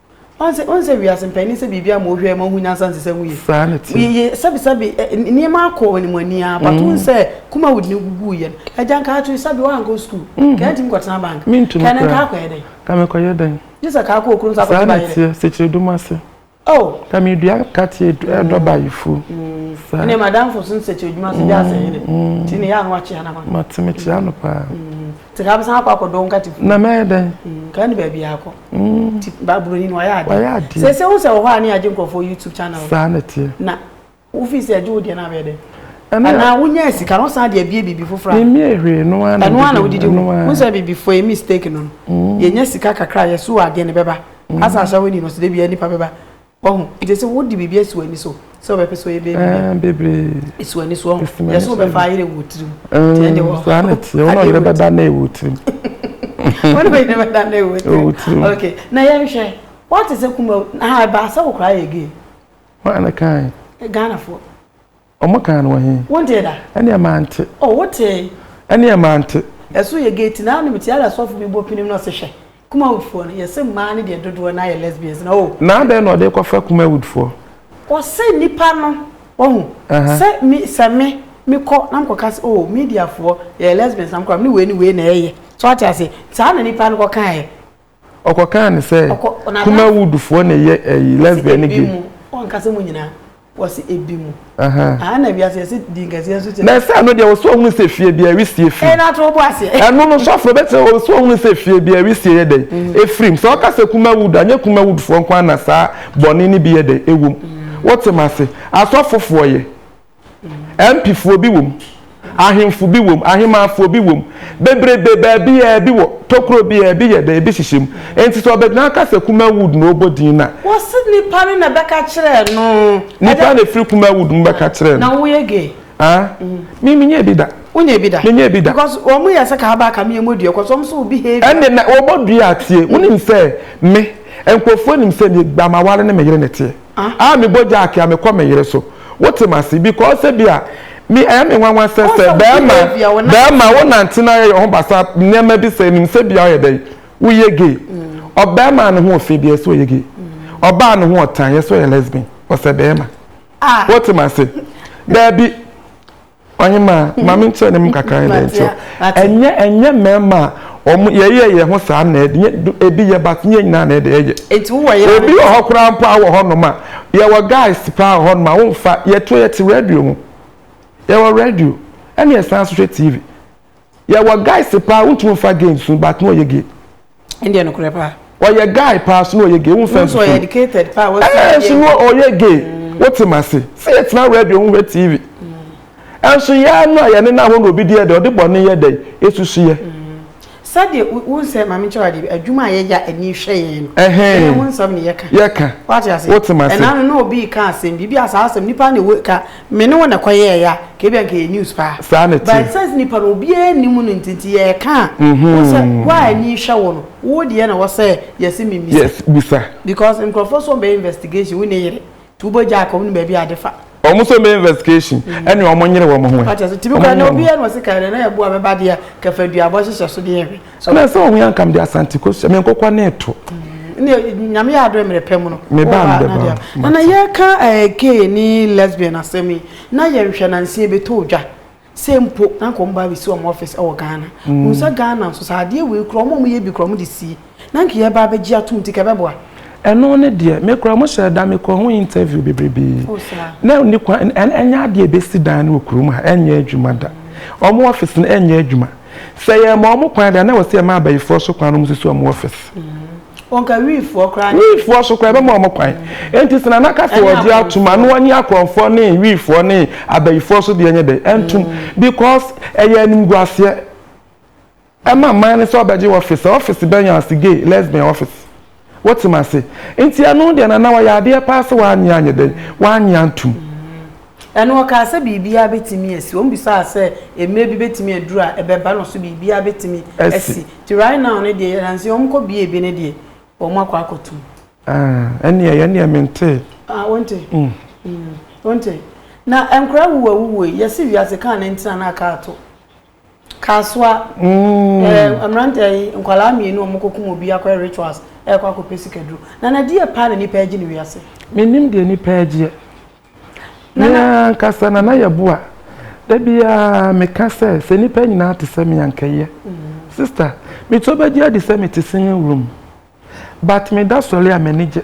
Ɔnse ɔnse wiase mpanin sɛ biribi ama ohwɛ ma ohun nyansa nsesa mu yie. Saa ne ti. Yɛ sɛbi sɛbi nneɛma akɔ wɔn mu ani ara but n sɛ kuma wudi ne gugu yɛ no ɛgya nka ato sɛbi wɔn ankɔ sukuu. Kɛyɛ ntumi kɔ tena bank. Mi ntumi kura. Kɛyɛ nka akɔ yɛ dɛn. Ka mi kɔ yɛ dɛn. Gye sɛ ka akɔ okunu nsa akɔ ba yɛ dɛ. Saa ne tiɛ sekyire dum ase. Oh. Ka mi dua ka tiɛ ɛdɔ ba yɛ fu. Saa. Ɛnɛ ma danfo so sekyire dum ase gya ase yɛ dɛ. Ti ne yɛ ano akyia na ma. Ma ti mi kyia no paa. Te ka bɛsan akɔ akɔdɔ nkate kunu. Na mɛyɛ dɛn? Nka ɛne baabi a akɔ. Ti ba buroni no ɔyɛ adeɛ. Ɔyɛ adeɛ. Sɛ sɛ wo sɛ wɔ hɔ a ne agye nkurɔfoɔ YouTube channel. Saa na teɛ. Na wo fi sɛ agye wo deɛ na abɛyɛ dɛn? Ɛne. Anaa wo nya sika no san de abie biribi foforɔ a. Me mmie hwee ɛno ara na. Ɛno ara na wo didi ho. Wo sɛ biribi for a mistake no no. Yɛ nya sika kakra yɛ so adeɛ no bɛba. Asa ahyɛ wo ani no so da biara nipa bɛba. Wahu? Nti ɛsɛ sɛ wode biribi asi w'ani so sɛ wobɛpɛ sɛ ɔyɛ bɛyɛ biribi. Bebree. Ɛsi w'ani so ɔho. Ɛsi w'ani so. Yɛsɛ wobɛfa ayerɛ wɔ tirim. Nti ɛnde wɔ. Saa na ɛteɛ. Wɔn a ɔyerɛ bɛda na ɛwɔ tirim. Wɔn a ɔyerɛ bɛda na ɛwɔ tirim. Ɛwɔ tirim. Okay. Na yɛnhwɛ. Wɔte sɛ kuma ha ɛbaa sɛ wokora yɛ gay. Wɔn a na kan. Ghanafoɔ. Ɔmo kan no wɔ he? Wo deɛ da? Ɛneɛ mante. Oh wo tee? Ɛneɛ mante. Ɛso yɛ gate naa no metie ara sɔfo bi bɔ pinim na ɔse hwɛ Kumawood foɔ no yɛse mmaa no deɛ dodoɔ naa yɛ lesbians na oh. Na adɛn na ɔde kɔfa Kumawood foɔ? Ɔse nipa no wahu sɛ me sɛ me mekɔ na mekɔ ka se oh media foɔ yɛyɛ lesbians na mekɔ a mene wei ne wei na ɛyɛ so wate aseɛ saa na nipa no kɔ kaeɛ Ɔkɔ kaa ne sɛ kuma wood foɔ na ɛyɛ ɛyi lesbian ne gay. Ɔnkasa mu nyinaa wɔsi ebi mu. Aha na wiase yɛsi di nkɛseɛ nso kyɛ. Na ɛsɛ ano deɛ wɔsi ɔhunu sɛ fie bi ɛwi sie firi. Ɛna ato ɔbɔ aseɛ. Ɛno no sɔfo bɛte wɔsi ɔhunu sɛ fie bi ɛwi sie yɛ dɛ efirim sɛ ɔka sɛ kuma wood anyɛ kuma wood foɔ nko ara na saa bɔne ne bi yɛ dɛ ewom. Wote ma se asɔfo foɔ yɛ. Mpifoɔ bi wom, ahemfo bi wom, ahemaafoɔ bi wom, bebrebe baabiaa bi wɔ, tokuro biaa bi yɛ dɛ, ebi hyehyɛ mu. Enti sɛ ɔbɛgyina aka sɛ Kumawood na ɔrebɔ din no a. Wɔse nipa no na ɛbɛka kyerɛɛ no. Nipa na ɛfiri Kumawood mu bɛka kyerɛɛ no. Na woyɛ gay? Haa? Me menyɛɛ bi da. Wonyɛɛ bi da? Menyɛɛ bi da. Because wɔn yɛ sɛ kaaba ka meɛ mɔdua cause wɔn nso wo behavior. Ɛnne na wɔbɔ dua a tie, wonim sɛ me, nkurɔfoɔ nim sɛ me, ba m'aware ne me yere na ɛteɛ. Ah me bɔ Jack a me kɔ me yere so wote m'ase because ebia me ɛyɛ me nwanwa sɛ sɛ bɛɛma bɛɛma wo nante na yɛ ho basa nneɛma bi sɛ nim sɛ bia ɔyɛ dɛ woyɛ gay ɔbɛɛma ne ho ofi deɛ sɛ ɔyɛ gay ɔbaa ne ho ɔtan yɛ sɛ ɔyɛ lesbian ɔsɛ bɛɛma wote m'ase daabi ɔnye ma ma me nkyerɛ ne mu kakra ne dɛ nkyerɛ ɛnyɛ ɛnyɛ mmarima a wɔn yɛyɛ yɛn ho saa na ɛde ebi yɛ but nyɛ nyinaa na ɛde ɛyɛ obi wɔ hɔ koraa mpo a wɔ hɔ nom a yɛwɔ guys paa wɔ hɔ nom a wɔmfa yɛto yɛte radio ho yɛwɔ radio ɛna yɛsan so hwɛ tv yɛwɔ guys paa wontumi mfa gay nsu but na ɔyɛ gay ɛndeɛ nokorɛ paa ɔyɛ guy paa so na ɔyɛ gay womfa nsu ɔyɛ educated paa ɛɛ so na ɔyɛ gay mm. wote ma se sɛ yɛtena radio ho hwɛ tv ɛnso mm. yɛa no a yɛne no ahɔ na obi deɛ dɛ ɔde bɔne yɛ dɛ ɛsusu yɛ mm. sɛdeɛ wo nsɛ maame nkyɛ wadeɛ adwuma a yɛya ani hwɛ yɛn no ɛhɛn ho nsɛm ne yɛka yɛka wote ma se ɛna no na obi ka asɛm biribi a saa asɛm nipa na ɛwɔ ka Me ne wo na ɛkɔ yɛɛ ya ka ebia nka ɛyɛ news paa Saa na ɛteɛ. but sɛnse nipa no obiara nni mu no nti nti yɛɛka a Mhm. wohu sɛ wo a ani hwɛ wo no wo deɛ na ɛwɔ sɛ yɛse me mmisa Yes bisa. because nkurɔfoɔ nso wɔn bɛyɛ investigation wo ne yere nti wo bɔ gya ka wonim baabi a ade fa. Wɔn nso wɔn bɛyɛ investigation ɛne wɔn nyere wɔn ho ɛ. Wate aseɛ? Tumi Wɔn koraa na nyere wɔn ho. obiara na ɔse ka deɛ na ɛboɔ a bɛba deɛ ka fa duabɔ hyehyɛ so deɛ hwɛ. So na sɛ ɔwea nkam de Asante kɔ sua me nkokwa ne to. Ne nyame yɛ adore mmerɛ pɛ mu no. Me ba me bɛba. Na na yɛka eh, gay ne lesbian asɛm yi na yɛnhwɛ na nsie bɛtɔ odwa. Sɛ mpo na nka ɔmo ba bɛsi ɔmo office ɛwɔ Ghana. Mm. Hu sɛ Ghana nso sɛ adeɛ wei kura ɔmo ɔmo yɛ bi kura ɔmo de sie. Na nka yɛba abɛgye atom nti ka ɛbɛboa. Ɛno ne deɛ me kura ɔmo hyɛ da me kɔ ho interview bebrebe. Oh, na ne kwan ɛnyɛ adeɛ ɛbɛsi dan no wɔ kurom ha ɛnyɛ adwuma da. Ɔmo office no ɛnyɛ adwuma. Sɛ yɛma wɔn kwan deɛ, na ɛwɔ sɛ yɛma abayifoɔ so kwan na wɔsisi wɔn office. Wɔnka wiifoɔ koraa. Wiifoɔ so koraa yɛbɛma wɔn kwan. Enti sɛ Nana ka sɛ ɔgye atom a, na ɔnye akorɔmfoɔ ne wiifoɔ ne abayifoɔ so deɛ nyɛ dɛ, ɛntom. Because ɛyɛ animguaseɛ ɛma man no sɛ ɔbɛgye office. Sɛ office bɛn? Yɛn ase, gay, lesbian office. Wote me ase? Enti ɛno deɛ na na wayɛ adeɛ paa sɛ wannye anyɛ dɛn? Wannye antom. Ɛnna ɔkaa sɛ, Biribiara bɛtumi asi. Wɔbisaa sɛ, Mmerɛ bi bɛtumi aduru a ɛbɛba no so biribiara bɛtumi asi? Nti right now no deɛ, yɛnam sɛ wɔkɔbue bi no deɛ, wɔakɔ akɔtom. Ah, ɛnneɛ yɛn deɛ mentee. Ah, wonte? Wonte? Na nkwadaa wuwuawuwuo yi, yɛse wiase kaa na nti na na aka ato. Kasoa, mm. eh, mmeranteɛ yi nkwadaa mmienu a wɔkɔkum obi akɔyɛ rituals ɛrekɔ akɔpɛ sikaduro nana deɛ paa na nipa agye ne wiase menim deɛ nipa agyeɛ nana nkasa nana yɛ boa da biara meka sɛ sɛ nipa nyinaa te sɛ me ankɛyɛ mm. sister meto bɛgye adi sɛ mete singing room but me da sɔre a m'ani gye.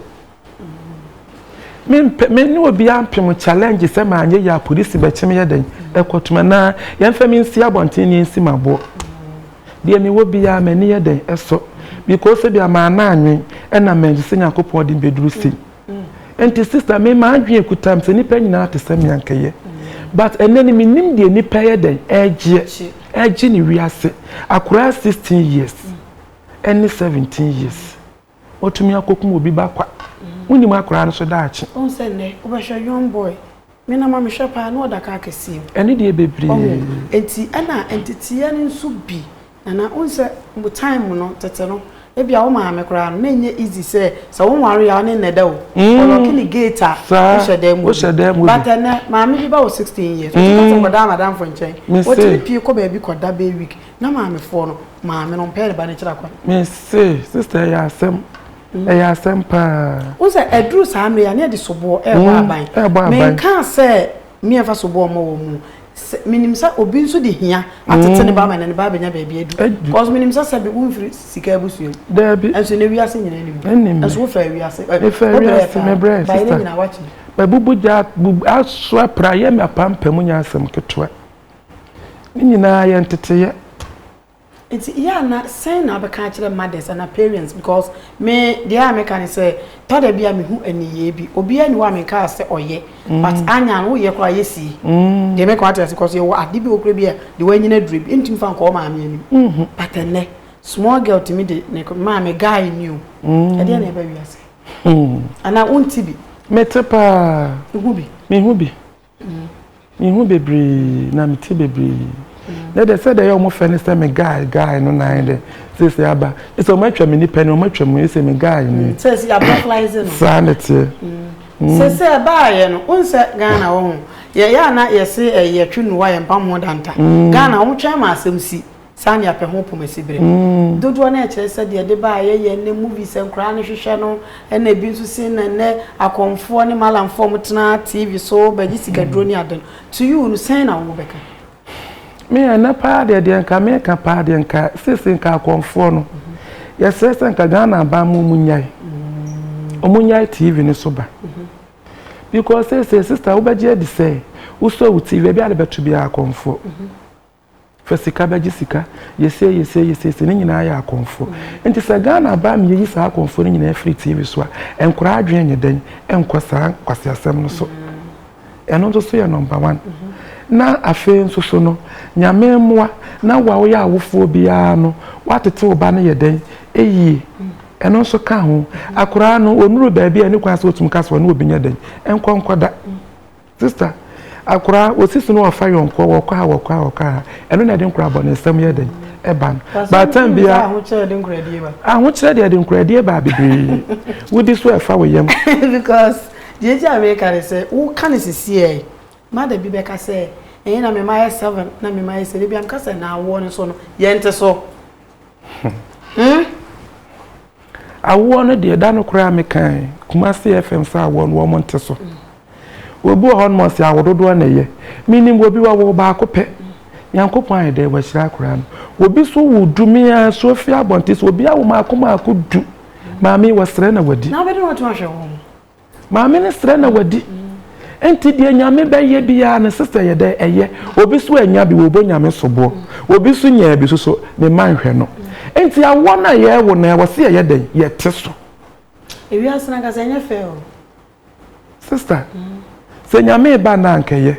Me mpɛ me ne obiara mpem challenge sɛ maa nyɛ yɛ a polisi bɛkye me yɛ dɛn ɛkɔ tuma naa yɛn fɛ me nsi abɔnten ne yɛn si ma boɔ. Deɛ me wɔ biara m'ani yɛ dɛn ɛsɔ because ebi a maa naa nwen ɛna mɛ nso sɛ nyankopɔn de mbɛ duru sei. Nti sister me maa dwen ekuta me sɛ nipa nyinaa te sɛ me anka yɛ but ɛnɛ no me nim deɛ nipa yɛ dɛn ɛgyeɛ ɛgye ne wiase akoraa sixteen years. ɛne seventeen years watumi akɔkum obi ba kwa wonim akwaraa no so daakye. Ɔn sɛ nnɛ wobɛhwɛ young boy me na ma mehwɛ paa na ɔda kaa kɛseɛ mu. Ɛne deɛ bebree. Ɔho nti ɛna nteteɛ no nso bi nana wohu sɛ mo time no tete no ebi a wo maame koraa no na ɛnyɛ easy sɛ sɛ wo nware a ɔne nnɛ da o ɔlɔke ne gate a wohyɛ dan mu bi but ɛnɛ maame bi ba wɔ sixteen years wotumi kasa kɔda amadamfo nkyɛn wotumi pie kɔ baabi kɔda bɛyɛ week Na maamefoɔ no, maame no mpɛɛ ne ba no akyiri akwan. Me se, sister ɛyɛ asɛm. Mm. Ɛyɛ asɛm paa. Wo sɛ ɛduru saa mmerɛ yɛ ne ɛde soboɔ ɛɛbɔ mm, aban. Ɛɛbɔ aban. Menkaa sɛ mmiɛnfa soboɔ mmɔ wɔn mu. Menim sɛ obi nso de hia atete ne ba ama ne ba abɛnya baabi adu. Because menim sɛ sɛ bi womfiri sika abusua mu. Daabi. Ɛnso ne wiase nyina anim. Ɛnim. Ɛnso wofɛ wiase. Mefɛ wiase mebrɛ sister. Bayi ne nyina wakyi. Mabubu gya asoa pra yɛ me apampam nyɛ asɛm ketewa. Ne nyinaa yɛ nteteeɛ. Nti yɛ ana sɛn na wobɛka akyerɛ mothers ana parents because me deɛ a meka ne sɛ tɔda bi a mehu aniyie bi obiara ni hɔ a menkaa sɛ ɔyɛ mm. but anya no woyɛ koraa yɛ sie mm. deɛ meka wate ase kɔ so yɛwɔ ade bi okura bi a de wanyina aduro bi ntumi fa nkɔɔ maame anim mm-hmm. but ɛnɛ small girl tumi de ne maame guy ni o mm. ɛdeɛ na ɛbɛ wiase mm. anaa wonti bi mete paa mehu bi mehu bi Mehu bebree na mete bebree. Na deɛ sɛdeɛ ɛyɛ wɔn fɛ ne sɛ me guy guy no na ayɛ dɛ sese aba sɛ wɔn atwa me nipa ni wɔn atwa mu sɛ me guy ni. Mm, sɛ si abɔflaize no. saa na teɛ. Mm. Mm. sese ɛbaayɛ no wɔn sɛ ghana wɔn ho yɛyɛ ana yɛse ɛyɛ twe nuwa yɛn pam ho danta mm. ghana wɔn twɛn ma asɛm si. Saa nea pɛ ho pomasi bere dodoɔ no ɛkyerɛ sɛ deɛ ɛde baeɛ yɛ ɛnnɛ movies a nkwadaa no hwehwɛ no ɛna ebi nso se na ɛnnɛ akɔmfoɔ ne malamfoɔ a wɔtena TV so bɛgye sikaduro ne ade no to you no sɛn na wobɛka? Me ɛnnɛ paa deɛ deɛ nka meka paa deɛ nka seesei nka akɔmfoɔ no yɛsrɛ sɛ nka Ghana aban mu wɔnyae wɔnyae TV no so ba because seesei sister wobɛgye adi sɛ wosɔ wo TV baabi a wode bɛto biara akɔmfoɔ Fa sika bɛgye sika, yɛ sei yɛ sei yɛ sei sei, ne nyinaa yɛ akɔmfoɔ. Nti sɛ Ghana aba na yɛyi saa akɔmfoɔ no nyinaa firi TV so a, nkwadaa adwene nyɛ dɛn nkɔ saa nkwaseasɛm no so? Ɛno nso so yɛ number one. Na afei nso so no, Nyame mmoa na wo a woyɛ awofoɔ biara no, woatete wo ba no yɛ dɛn yie. Ɛno nso ka ho. Akwadaa no, ɔnuru baabi a ɛnni kwan sɛ ɔtumi ka sɛ ɔne obi nyɛ dɛn nkɔ nkɔda. Sister, akwadaa wɔsi so na wɔfa yɔnkoɔ wɔkɔ ha wɔkɔ ha wɔkɔ ha ɛno na ɛde nkwadaa bɔ ne nsam yɛ dɛn ɛba no but time bia ahokyerɛ de nkoradie ba ahokyerɛ deɛ ɛde nkoradie ba bebree wodi so ɛfa wo yam because deɛ gye a meka ne sɛ woka ne sisiɛ mada bi bɛka sɛ ɛyɛ na mema yɛ seven na mema yɛ sɛ de bia meka sɛ na awoɔ no so no yɛnte so Hmm? Awoɔ no deɛ, da no koraa mekae Kumasi FM sɛ awoɔ no wɔn nte so. Obi wɔ hɔ nom ɔse awododoɔ na ɛyɛ. Menim wɔ bi wɔwo baako pɛ. Nyankopɔn ayɛ dɛ wɔahyira akora no. Obi so wo du mea so afi abɔnte so obi awo maako maako du. Maame wɔsrɛ na wɔadi. Na wobɛde wɔn to ahwɛ wɔn. Maame no srɛ na wadi. Nti deɛ nyame bɛyɛ biaa no sister yɛ dɛ ɛyɛ. Obi so anya bi wɔbɔ nyame soboɔ. Obi so nyaa bi soso ne mma nhwɛ no. Nti awoɔ no a yɛwo no ɛwɔ se yɛyɛ dɛn yɛte so. Ewiase no ankasa ɛnyɛ fɛ o. Sister sɛ nyame ba no a anka ɛyɛ.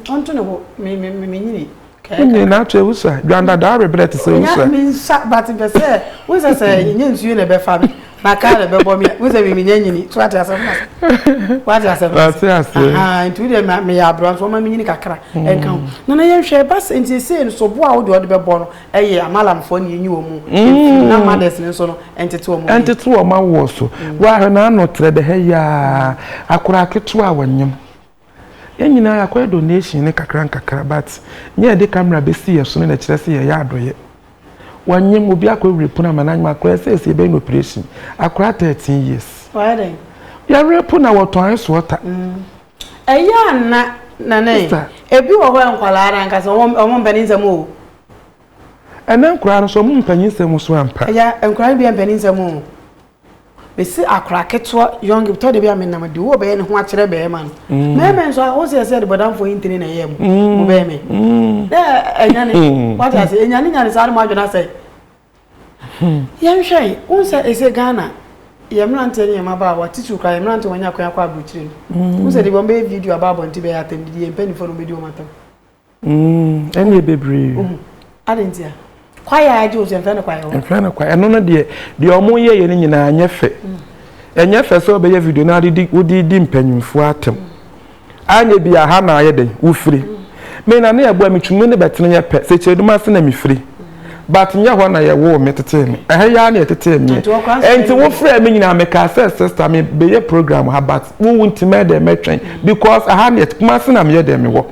Ɔnto ne ho me me me nyini. Kɛɛ kaka. Nyina kyɛ usa. Dwan dada awe brɛ te sɛ usa. Me nsa but mpɛ sɛ wohu sɛ sɛ yɛnya nsuo na ɛbɛfa me na car na ɛbɛbɔ me a wohu sɛ me menya nyini so wate asɛm no ase wate asɛm no ase ahaa nti wodeɛ ma meyɛ aberɛ nso wɔma me nyini kakra ɛnka ho na na yɛnhwɛ ɛba sɛ nti ɛsei no sobo a wodeɛ wɔde bɛbɔ no ɛyɛ amalamfoɔ ne yɛnyi wɔn mu ɛmfiri na mothers no nso no ɛntete wɔn mu ɛntete wɔn awoɔ so woahwɛ na ano trɛ dɛ hɛ yaa akora aketewa a wɔnyem Yɛn nyinaa yɛakɔyɛ donation no kakra nkakra but nyɛ yɛde camera bɛsi yɛn so no na ɛkyerɛ sɛ yɛyɛ adɔyɛ. Wɔanyem obi akɔ awurapu no ama no anyem akora sɛ ɛsɛ yɛbɛyɛ no operation. Akora thirteen years. Wayɛ dɛn? Yɛrapu na wɔtɔn ice water. Ɛyɛ a na Nana e, ebi wɔ hɔ yɛ nkwadaa no ankasa wɔn wɔn mpanin nsɛm o. Ɛnɛ nkwadaa no nso wɔn mpanin nsɛm nso ampa. Agya nkwadaa no bi yɛ mpanin nsɛm o. Mesi akora ketewa young tɔ de bi a menam de wo bɛyɛ ne ho akyerɛ bɛrima no mɛmɛ nso a wo sɛ ɛsɛ de bɔdamfoɔ yi ntini na ɛyɛ mu mo bɛyɛ me na ɛnya ne wate ase ɛnya ne nya ne saa de mo adwene asɛ yɛnhwɛ yi wo sɛ ɛsɛ Ghana yɛ mmeranteɛ ne yɛ mmabaa a wɔte sukuu koraa yɛ mmeranteɛ wɔnya akwan akɔ aburokyire no wo sɛ de wɔn bɛyɛ video aba abɔnten bɛyɛ atɛm didi yɛ mpanimfoɔ no wɔbɛdi wɔn atɛm Mm, ɛne yɛ bebree. Mm. Ade nti a, kwae a agye osu ɛmfɛ no kwae hɔ. Ɛmfɛ no kwae. Ɛno no deɛ, deɛ ɔmo yɛ yɛ no nyinaa nyɛ fɛ. Mm. Ɛnyɛ fɛ sɛ ɔbɛyɛ video na ade di wode di mpanyinfoɔ atam. Mm. Anyɛ bi aha na ayɛ dɛn? Wofiri. Mm. Me na ne ɛboa metwumi ne bɛtene yɛ pɛ, sɛ kyerɛdum ase na mefiri. but nyɛ hɔ na yɛwoo me tetee me ɛha yi ara na yɛtetee meɛ ɛnti wofrɛ me nyinaa mekaa sɛ sister me bɛyɛ program ha but wowu nti mɛyɛ dɛ mɛtwɛn because aha neɛ kuma se na meyɛ dɛ mewɔ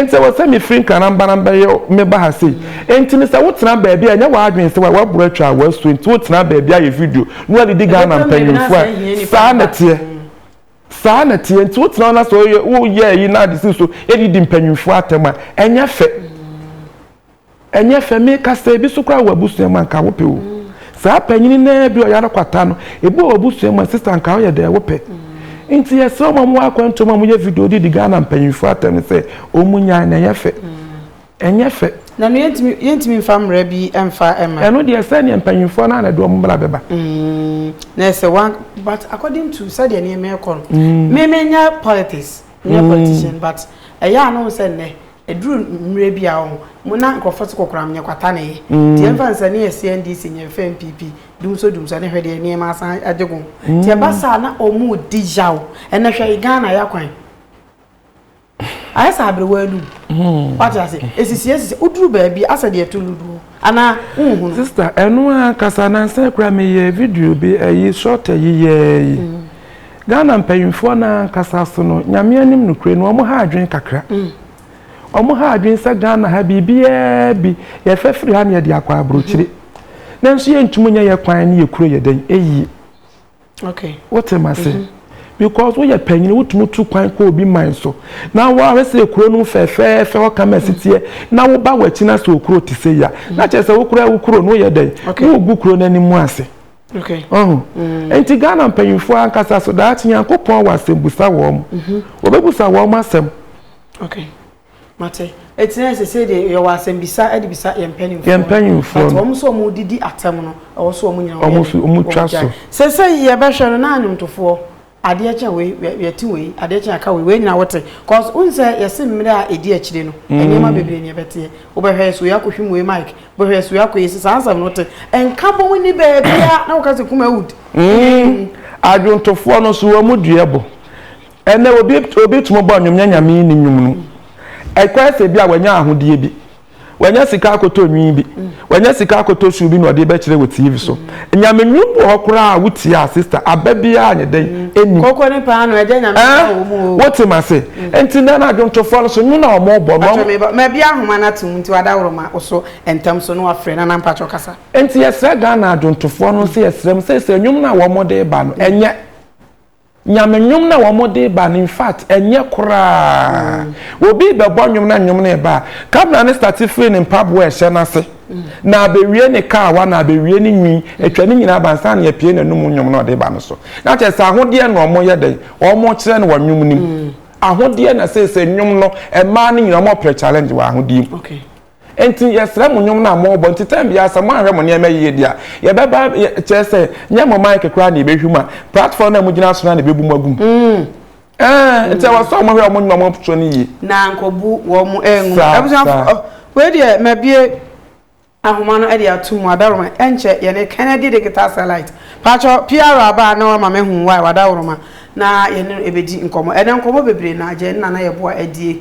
nti wɔ sɛ mefiri nkranambanam bɛyɛ meba ha sei nti me sɛ wotena baabi a ɛnyɛ w'adwene sɛ waboro atwa a wasuo nti wotena baabi ayɛ video na wadidi Ghana mpanyimfoɔ a saa na teɛ saa na teɛ nti wotena na sɛ woyɛ ayi na ade si so yɛdidi mpanyimfoɔ atɛm a ɛnyɛ fɛ Ɛnyɛ fɛ, meka sɛ ebi so koraa wɔ abusua mu a anka wopɛ o. Saa panyin no ara bi a ɔyare kwata no, ebi wɔ w'abusua mu a sista anka woyɛ dɛn wopɛ. Nti yɛsrɛ wɔn a wɔwɔ akwantu mu a wɔyɛ video de di Ghana mpanyimfo atɛm no sɛ wɔnyae na ɛnyɛ fɛ. Ɛnyɛ fɛ. Na no yɛntumi yɛntumi mfa mmara bi mfa mma. Ɛno deɛ sɛ neɛ mpanyimfoɔ no ara na ɛde wɔn mmara bɛba. Mm, na ɛsɛ wɔn but according to sɛdeɛ nneɛma ɛkɔ no, mm. me menyɛ politics, menyɛ mm. politician but ɛyɛ a no sɛ nnɛ Ɛduru mmerɛ bi a ɔho, mo na nkorɔfoɔ te kokoram nyɛ kwata na ɛyɛ. Nti yɛmfa nsɛ ne yɛse NDC nyɛ mfa NPP dumsɔ dumsɔ ne hwɛ deɛ nneɛma asan agye gom. Nti ɛba saa na wɔredi yaw. Ɛnɛ hwɛ Ghana ya kwan. Ayɛ sɛ aberewa anum. Wate aseɛ? Ɛsisi ɛsisi. Woduru baabi asɛ deɛ ɛto lodoɔ. Anaa wonhunu. Sister ɛno ara ankasa nansa yi koraa meyɛɛ video bi ɛyi short ɛyi yɛɛ yi Ghana mpanyinfoɔ no ara ankasa so no Nyame anim nokorɛ ni wɔn ha adwene kakra wɔn ha adwene sɛ Ghana ha biribiara bi yɛfɛ firi ha na yɛde akɔ abrokyire nanso yɛntumi nyɛ yɛ kwan ne yɛ kuro yɛ dɛn ɛyie. Okay. Wote ma se. Mhm. Because woyɛ panyin wotumi tu kwan kɔ obi man so. Na woahwɛ sɛ ekuro no fɛfɛɛfɛ hɔ kama si teɛ na woba w'akyi na sɛ okuro te sɛ ya. Na kyerɛ sɛ wokura wo kuro no woyɛ dɛn? Okay. Wogu kuro no anim ase. Okay. Ɔho. Mm. Enti Ghana mpanyinfoɔ ankasa so daakye Nyankopɔn wɔ asɛm busa wɔn. Mhm. Wɔbɛbusa wɔn asɛm. Okay. Mate. Eti na ɛsɛ sɛ deɛ yɛwɔ asɛmbisa de bisa yɛn mpanimfoɔ. Yɛn mpanimfoɔ no. But wɔn sɛ wɔn didi atɛm no, ɛwɔ sɛ wɔn nyina wɔn yɛ dɛ. Wɔn twa so. Sɛsɛyi yɛbɛhwɛ no na nnwomtofoɔ, adeɛ kye a wei, yɛte wei, adeɛ kye a yɛka wei, wei nyina wote. Cause wohu sɛ yɛse mmerɛ a ɛdi akyire no, nneɛma bebree na ɛbɛteɛ. Wobɛhwɛ yɛse wei akɔhwim wei mic, wobɛhwɛ yɛse wei akɔ yei, saa nsɛm no wote. Nka bom nni baabiara na woka sɛ Kumawud. Adwomtofoɔ no nso wɔn dua bo. Ɛnnɛ, obi obi tumi bɔ nnwom nyɛ Nyame nni nnwom no. Ɛkɔyɛ sɛ ebia wanya ahodeɛ bi, wanya sika akɔtɔ nwi bi, wanya sika akɔtɔ shoe bi na ɔde rebɛkyerɛ wɔ TV so. Nyame nnwom bi wɔ hɔ koraa a wotie a sister, aba biara nyɛ dɛn, ɛnnim. Koko ne paanoo, agya Nyame nhyira wɔn o. Ɛɛ, wote m'ase? Nti nnɛ no adwontofoɔ no so nnwom no a wɔrebɔ no. Mpakyɛ meba, ma biara nhoma no ato mu nti wadawroma wo so ntɛm so na wafrɛ Nana mpakyɛ kasa. Nti yɛsrɛ Ghana adwontofoɔ no nso yɛsrɛ mo sɛ sɛ nnwom no a wɔde reba no ɛnyɛ Nyame nwom na wɔn de ba no infact ɛnyɛ koraa mm. obi bɛbɔ nwom na nwom no ba kamera no start firi ne mpaboa ɛhyɛ no ase mm. na abɛwie ne kaawa na abɛwie ne nwi atwa ne nyinaa ba nsa ne apue n'anum nwom na ɔde ba no so na kyerɛ sɛ ahodeɛ na wɔn yɛ dɛn wɔn kyerɛ no wɔ nwom no mu mm. ahodeɛ na sɛ sɛ nwom no mmaa no nyinaa wɔn ɔpere challenge wɔ ahodeɛ mu. Okay. Enti yɛsrɛ mo nnwom no a morebɔ nti time biara sɛ moanhwɛ mo nneɛma yie deɛ a yɛbɛba kyerɛ sɛ nyɛ mo mic koraa na yɛbɛhwim a platform no a mogyina so no ara na ɛbɛbu mo agu mu Ɛɛn nti ɛwɔ sɛ wɔn hwɛ wɔn nnwuma wɔn to no yie. Na nkɔbu wɔn angu. Saa Abusuafoɔ saa. oh wei deɛ mabue ahoma no de ato mu adaworoma ɛnkyɛ yɛne Kennedy Digital Satellite paatwɔ PR aba a na wama mahu wo a wadaworoma na yɛne no ɛbɛdi nkɔmmɔ ɛnɛ nkɔmmɔ bebree na agye ɛne Nana Yeboah adie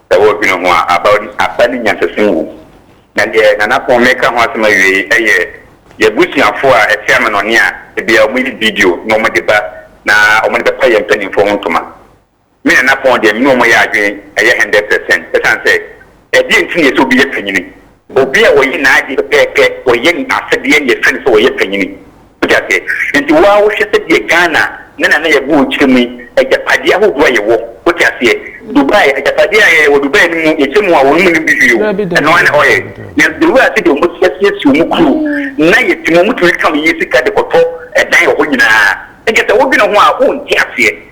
Sɛ woredwene ho a, aba aba ne nyansasim wom. Na deɛ Nana Pon meka ho asɛm awie yi yɛ y'abusuafoɔ a ɛte amanɔne a ebia wɔyɛ video na wɔde ba na wɔde bɛpa yɛn mpaninfoɔ ho ntoma. Me Nana Pon deɛ me ne wɔn yɛ adwene yɛ hundred percent ɛsiane sɛ ɛdeɛn nti na ɛsɛ obi yɛ panyini? Obi a ɔyɛ n'ade pɛpɛɛpɛ, ɔyɛ ne asɛdeɛ na yɛfrɛ no sɛ ɔyɛ panyini. Wote aseɛ? Nti wo ara wohwɛ sɛdeɛ Ghana ne Nana Yabuo kyerɛ mu yi, agyapadeɛ ahodoɔ a yɛwɔ, wote aseɛ? Dubai, agyapadeɛ a yɛwɔ Dubai no mu, yɛkyɛ mu a wɔn mu nnim bi hwee o, ɛno ara ne oil. Nanso deɛ wohwɛ sɛdeɛ wɔasiesie wɔn kuro na yɛte mu, wɔtumi kam yɛn sika de kɔtɔ dan wɔ hɔ nyinaa. Nti sɛ wodwene ho a, wonte aseɛ.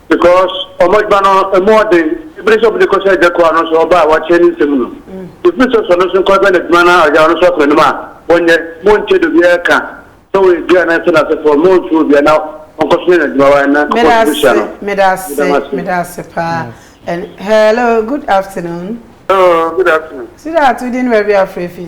because wɔn adwuma no ɛmu ɔden ebiri sɛ wɔn de kɔhyɛ ɛdɛ kɔ ano nso ɔbaa wɔakyɛ ne nsɛm no efiri sɛ sɔ no nso nkɔ bɛ n'adwuma na ɔyɛ ɔno nso akɔ anim a wɔnyɛ mo nkyɛ de obiara ka sɛ wɔyɛ dua na ɛsɛ n'asefoɔ mo nso obiara na ɔnkɔ so yɛ n'adwuma wa na nkɔkɔ nso hyia no medase medase paa and hello good afternoon hello good afternoon sidat wodi ne baabi afrɛ fi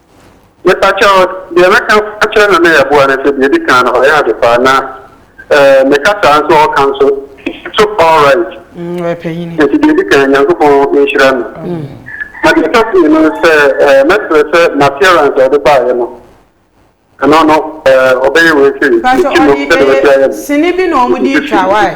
Mepakyɛw, deɛ mɛka akyerɛ no ne ɛboa ne sɛ, deɛ ɛdi kan no ɔyɛ ade paa na eh, me kasaa nso ɔka nso so alright. Mm, ɔyɛ panyin. Nti deɛ ɛdi kan Nyankopɔn nhyira no. Mm. Na deɛ ɛtɔ so mmienu no sɛ eh, mɛsrɛ sɛ n'appearance a ɔde baeɛ no ɛno no eh, ɔbɛyɛ wei sɛ ne ti no sɛdeɛ ɔbɛsi ayɛ no. Sini bi na wɔn de twa wae.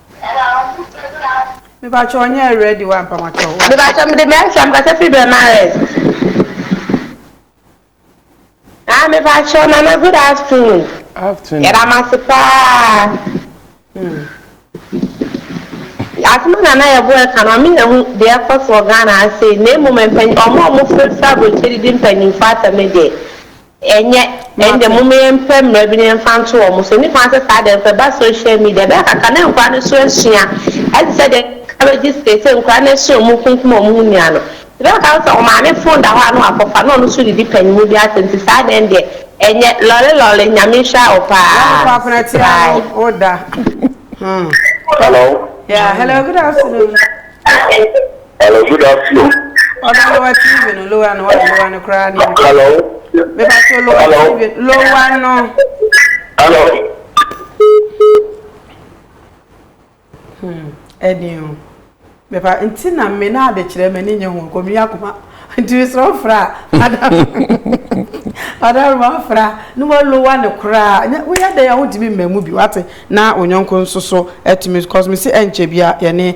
Mepakyɛw ɔnyɛ ready wa mpamatɔw wa. Mepakyɛw mede me nsɛm kasa firi Bɛmares ah mepakyɛw nana good afternoon afternoon yɛda mo ase paa hmm asɛm a nana yɛbo ɛka no ɔme yɛ ho deɛ ɛkɔ so wɔ Ghana ha sei na mmom mpanyin ɔmo a ɔmo fira fira aburokyire didi mpanyinfoɔ asɛm no deɛ Ɛnyɛ. Ɛnde momma yɛmpɛ mmara bi na yɛmfa nto wɔn so. Nnipa nte saa de, ɛmfa ba social media. Bere kakra na nkwadaa no nso asua. Ayɛ te sɛ deɛ encourage seesei nkwadaa no ahyia wɔn kunkum wɔn ho nua no. Bere kakra no sɛ wɔn maame fon da hɔ a na wakɔfa na ɔno nso redidi panin bi ase nti saa de ɛndeɛ ɛnyɛ. Lɔre lɔre Nyame nhyira wo paa. Lɔre kwapena ti ano wo da. Hello. Yeah, hello, good afternoon. Hello, good afternoon. Ọdọ lower TV no, lower no, ọdọ lower no koraa ni. Hello. Bẹba to lower Hello. TV, lower no. Hello. Hmm, ẹni o. Bẹba nti na mme na adekyerẹ mẹ ni nye ho ọkọ mi akoma nti mi sọrọ fura adam adam ma fura ne mo lower no koraa nye woyɛ dɛ a wotumi mma mu bi wate na onyɔnko nso so ɛtumi cause mi si ɛnkyɛ bi a yɛne.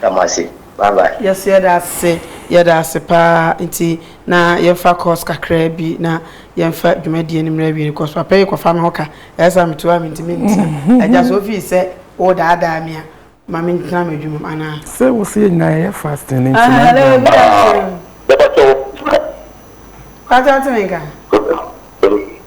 Da mo ase bye bye. Yes yɛda ase yɛda ase paa nti na yɛnfa course kakraa bi na yɛnfa dwumadie no mmrɛ awie no cos papa yi kɔfa me ho ka ɛyɛ sɛ ametu a mentumi mmisa agya sɛ ofii sɛ wo daadaa me a ma mentena m'adwuma mu anaa. Sɛ wo sɛ yɛ nyinaa yɛyɛ fasting no nti na agya me. Ahaa bɛba kyɛw. Kwantɛ ɔte me nka.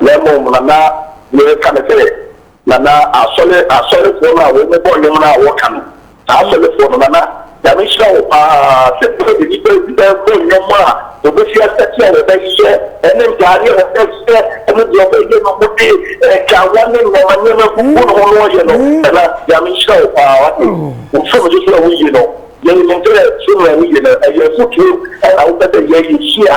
Na mmom na na mereka ne sɛ, na na asɔre, asɔrefoɔ no a wɔn bɔ nnwom no a wɔka no, saa asɔrefoɔ no, na na Nyame nhyira wɔ pa ara sɛ berɛ bi nnipa bi bɛbɔ nnwom a wɔbɛsi asɛte a wɔbɛyeyɛ ne ntaadeɛ a wɔbɛhyehyɛ ne deɛ wɔbɛyɛ no mu de nkawa ne nnoɔma nneɛma gugu ne ho no wɔyɛ no, na na Nyame nhyira wɔ pa ara. Wate? Wofrɛ me sɛ sɛdeɛ woyie no, yɛnim sɛ sɛdeɛ woyie no ɛyɛ afotuo na wopɛ sɛ yɛyɛ hyia.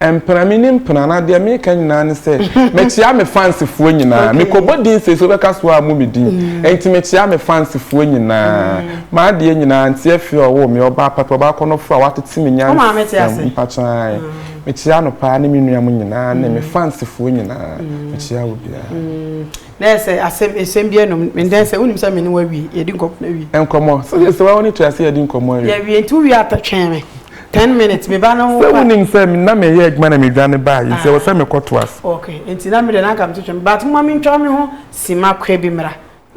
Mpena me ni mpena na deɛ meka nyinaa ne sɛ mekyea me fans foɔ nyinaa mekɔbɔ din sei so wobɛka so a mo me din enti mekyea me fans foɔ nyinaa m'adeɛ nyinaa nti afie ɔwoo me ɔbaa papa ɔbaa kɔnɔfoɔ a watete me nyansam mpakyaa mekyea no paa ne me nua mo nyinaa ne me fans foɔ nyinaa mekyea wo biara na yɛ sɛ asɛm esɛm bi ɛnom mendɛn sɛ wonim sɛ me ne wawie yɛdi nkɔmmɔ na wie nkɔmmɔ sɛ yɛ sɛ wa wo ne to ase yɛdi nkɔmmɔ awie yɛwie nti wowie atɛtwɛn me Ten minutes, me ba no. Sɛ wonim sɛ na meyɛ adwuma na medwane baa yi, nti ɛwɔ sɛ mekɔ to ase. Ok, nti na me deɛ na anka mete twam, but mma mentwa me ho sima kɔ bi mmra.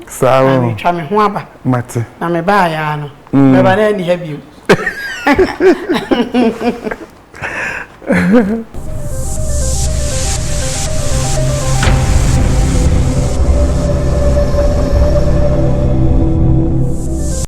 Saa o. Na metwa me ho aba. Mate. Na me baa yaa no. Mm. Mɛba na ɛni ha bio.